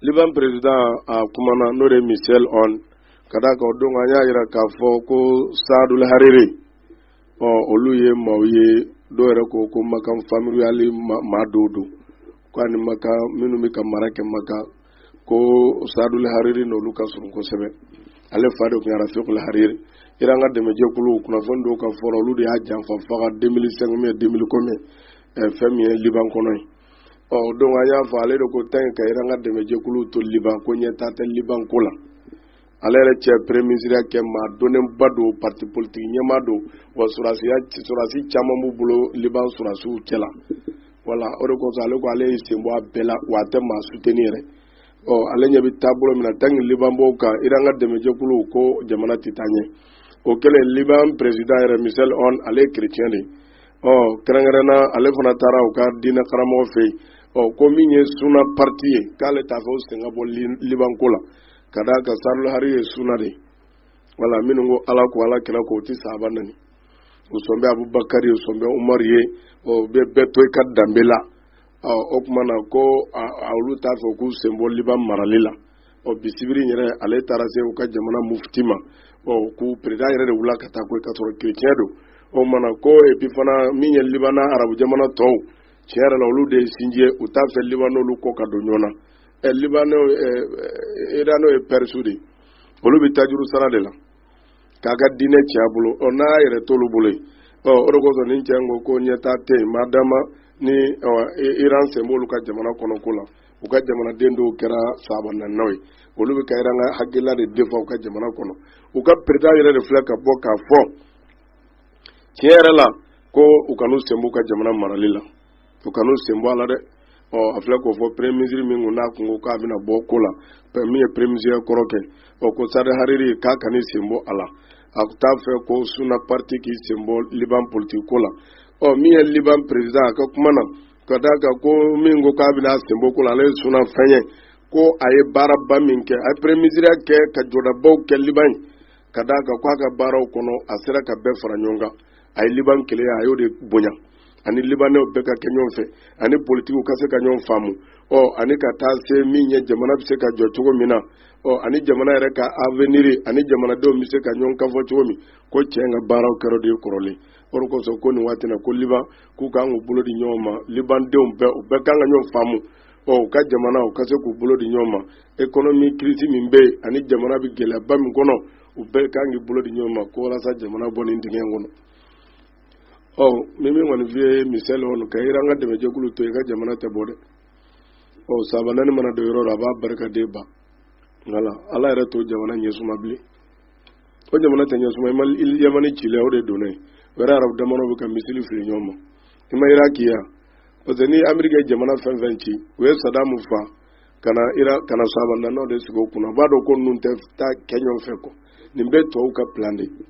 liban perezidan a kumana n'o de ye michel aoun ka d'a kan o don an y'a jira k'a fɔ ko saadul hariri ɔ olu ye maaw ye dɔw yɛrɛ ko ko makan famille royale maa dɔw don ko ani makan minnu bɛ ka mara kɛ makan ko sadul hariri n'olu ka surun kosɛbɛ ale fa de tun ye rafikul hariri iran ka dɛmɛjɛkulu kunnafoni dɔw ka fɔ la olu de y'a janfa faga 2005 mɛ 2000 kɔmɛ fɛn min ye liban kɔnɔ ye ɔ donc an y'a fɔ ale de ko tanki iran ka dɛmɛjɛkulu to liban ko ɲɛtaa tɛ liban ko la ale yɛrɛ cɛ premier ministreya kɛ maa dɔnnenba don pati politigi ɲɛmaa don wa sɔrɔdasi caman b'u bolo liban sɔrɔdasiw cɛ la voilà o de kosɔn ale ko ale y'i sen bɔ a bɛɛ la wa a tɛ maa suteni yɛrɛ ɔ ale ɲɛ bɛ taabolo min na tanki liban b'o kan iran ka dɛmɛjɛkulu ko jamana tɛ taa ɲɛ o kɛlen liban perezida yɛrɛ michel aoun ale ye kerecɛn de ɔ kɛrɛnkɛrɛnna ale fana taara u ka diinɛ karamɔgɔ fɛ yen ɔ ko min ye suna pariti ye k'ale t'a fɛ u sen ka bɔ liban ko la ka d'a kan sadul hariri ye suna de voilà minnu ko ala ko ala kira ko u tɛ sahaba nɛni u sɔn bɛ abubakari u sɔn bɛ umar ye u bɛ bɛɛ to i ka danbe la o tuma na ko olu t'a fɛ k'u sen bɔ liban marali la ɔ bi sibiri in yɛrɛ ale taara se u ka jamana mufti ma ɔ k'u perezidan yɛrɛ de wula ka taa ko ka sɔrɔ kerecɛn don o mana ko epi fana min ye liban n'arabu jamana tɔw tiɲɛ yɛrɛ la olu de ye sinji ye u t'a fɛ liban n'olu kɔ ka don ɲɔgɔn na ɛ libanɛ ɛ iranɛ ye pɛrisiw de ye olu bɛ tajuru sara de la k'a ka diinɛ tiɲɛ a bolo ɔ n'a yɛrɛ t'olu bolo yen ɔ o de kosɔn nin cɛ ko ko ɲɛtaa tɛ yen madama ni iran sen b'olu ka jamana kɔnɔ ko la u ka jamanaden dɔw kɛra sahaba nɛninaw ye olu bɛ ka iran ka hakilila de defa u ka jamana kɔnɔ u ka perezidan yɛrɛ de filɛ ka bɔ k'a fɔ tiɲɛ yɛrɛ la ko u kan'u sen b'u ka jamana marali la u kan'u sen bɔ a la dɛ ɔ a filɛ k'o fɔ premier ministre min kun n'a kun ko k'a bɛna bɔ ko la min ye premier ministre kɔrɔ kɛ ɔ ko sadi hariri k'a kan'i sen bɔ a la a t'a fɛ ko suna parti k'i sen bɔ liban politiki ko la ɔ min ye liban président a ka kuma na ka d'a kan ko min ko k'a bɛna sen bɔ ko la ale ye suna fɛn ye ko a ye baaraba min kɛ a ye premier ministre kɛ ka jɔdabaw kɛ liban ye ka d'a kan ko a ka baaraw kɔnɔ a sera ka bɛɛ fara ɲɔgɔn kan a ye liban kelenya a y'o de bonya ani libanɛw bɛɛ ka kɛ ɲɔgɔn fɛ ani politigiw ka se ka ɲɔgɔn faamu ɔ ani ka taa se min ye jamana bɛ se ka jɔ cogo min na ɔ ani jamana yɛrɛ ka avenir ani jamanadenw bɛ se ka ɲɔgɔn kan fɔ cogo min ko cɛ ka baaraw kɛra o de ye kɔrɔlen o de kosɔn ko nin waati na ko liban k'u kan k'u bolo di ɲɔgɔn ma libandenw bɛɛ u bɛɛ kan ka ɲɔgɔn faamu ɔ u ka jamana u ka se k'u bolo di ɲɔgɔn ma ekonomi kirisi min bɛ yen ani jamana bɛ gɛlɛyaba min kɔnɔ u bɛɛ kan k'i bolo di ɲɔgɔn ma ko walasa jamana bɔ nin dingɛ in kɔnɔ ɔ min min kɔni f'i ye michel aoun ka iran ka dɛmɛjɛkulu to i ka jamana tɛ bɔ dɛ ɔ sahaba nɛnina mana don yɔrɔ la a b'a barika de ban wala ala yɛrɛ t'o jamana ɲɛsuma bilen o jamana tɛ ɲɛsuma i ma yamani cile o de donna yen o yɛrɛ arabu jamanaw bɛ ka misili fili ɲɔgɔn ma i ma iraki ye parce que ni ameriki ye jamana fɛn fɛn ci u ye sadamu fa ka na iran ka na sahaba nɛninaw de sigi u kunna u b'a dɔn ko ninnu tɛ taa kɛ ɲɔgɔn fɛ quoi nin bɛɛ tubabuw ka plan de ye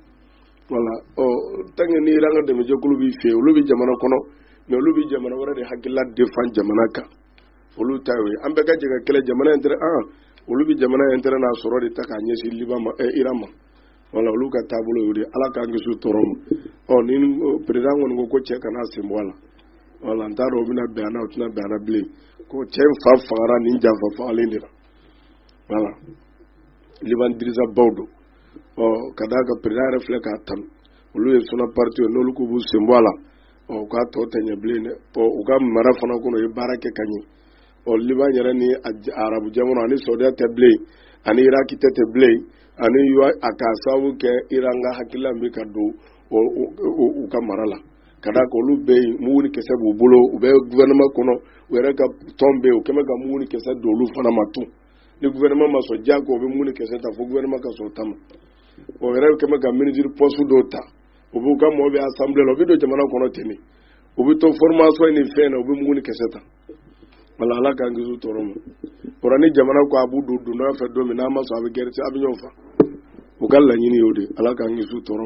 wala ɔ tant que ni iran ka dɛmɛjɛkulu b'i fɛ olu bɛ jamana kɔnɔ mais olu bɛ jamana wɛrɛ de hakilila défend jamana kan olu ta ye an bɛɛ ka jɛ ka kɛlɛ jamana intérêt olu bɛ jamana intérêt n'a sɔrɔ de ta k'a ɲɛsin liban ma ɛ eh, iran ma wala olu ka taabolo y'o de ala k'an kisi tɔɔrɔ ma ɔ ni perezidan kɔni ko ko cɛ kan'a sen bɔ a la wala n t'a dɔn o bɛna bɛn a na o tɛna bɛn a na bilen ko cɛ in fa fagara nin janfa fagalen de la wala liban dirigeant baw don ɔ ka d'a kan perezidan yɛrɛ filɛ k'a tanu olu ye suna parti ye n'olu k'u b'u sen bɔ a la ɔ u k'a tɔ tɛ ɲɛ bilen dɛ ɔ u ka mara fana kɔnɔ u ye baara kɛ ka ɲɛ ɔ liban yɛrɛ ni arabu jamana ani sɔdiya tɛ bilen ani iraki tɛ tɛ bilen ani a k'a sababu kɛ iran ka hakilila bɛ ka don u ka mara la ka d'a kan olu bɛ yen mugu ni kisɛ b'u bolo u bɛ gouvernement kɔnɔ u yɛrɛ ka tɔn bɛ yen u kɛlen bɛ ka mugu ni kisɛ don olu fana ma tun ni gouvernement ma sɔn diyago u bɛ mugu ni kɛsɛ ta fo gouvernement ka sɔn u ta ma u yɛrɛ kɛlen bɛ ka ministre poste dɔw ta u b'u ka mɔgɔw bɛ assemblée la u bɛ don jamana kɔnɔ ten de u bɛ to formation ni fɛn na u bɛ mugu ni kɛsɛ ta wala ala k'an kisi tɔɔrɔ ma o la ni jamana ko a b'u don dondɔya fɛ don min n'a ma sɔn a bɛ gɛrɛ a bɛ ɲɔgɔn fa u ka laɲini y'o de ala k'an kisi tɔɔrɔ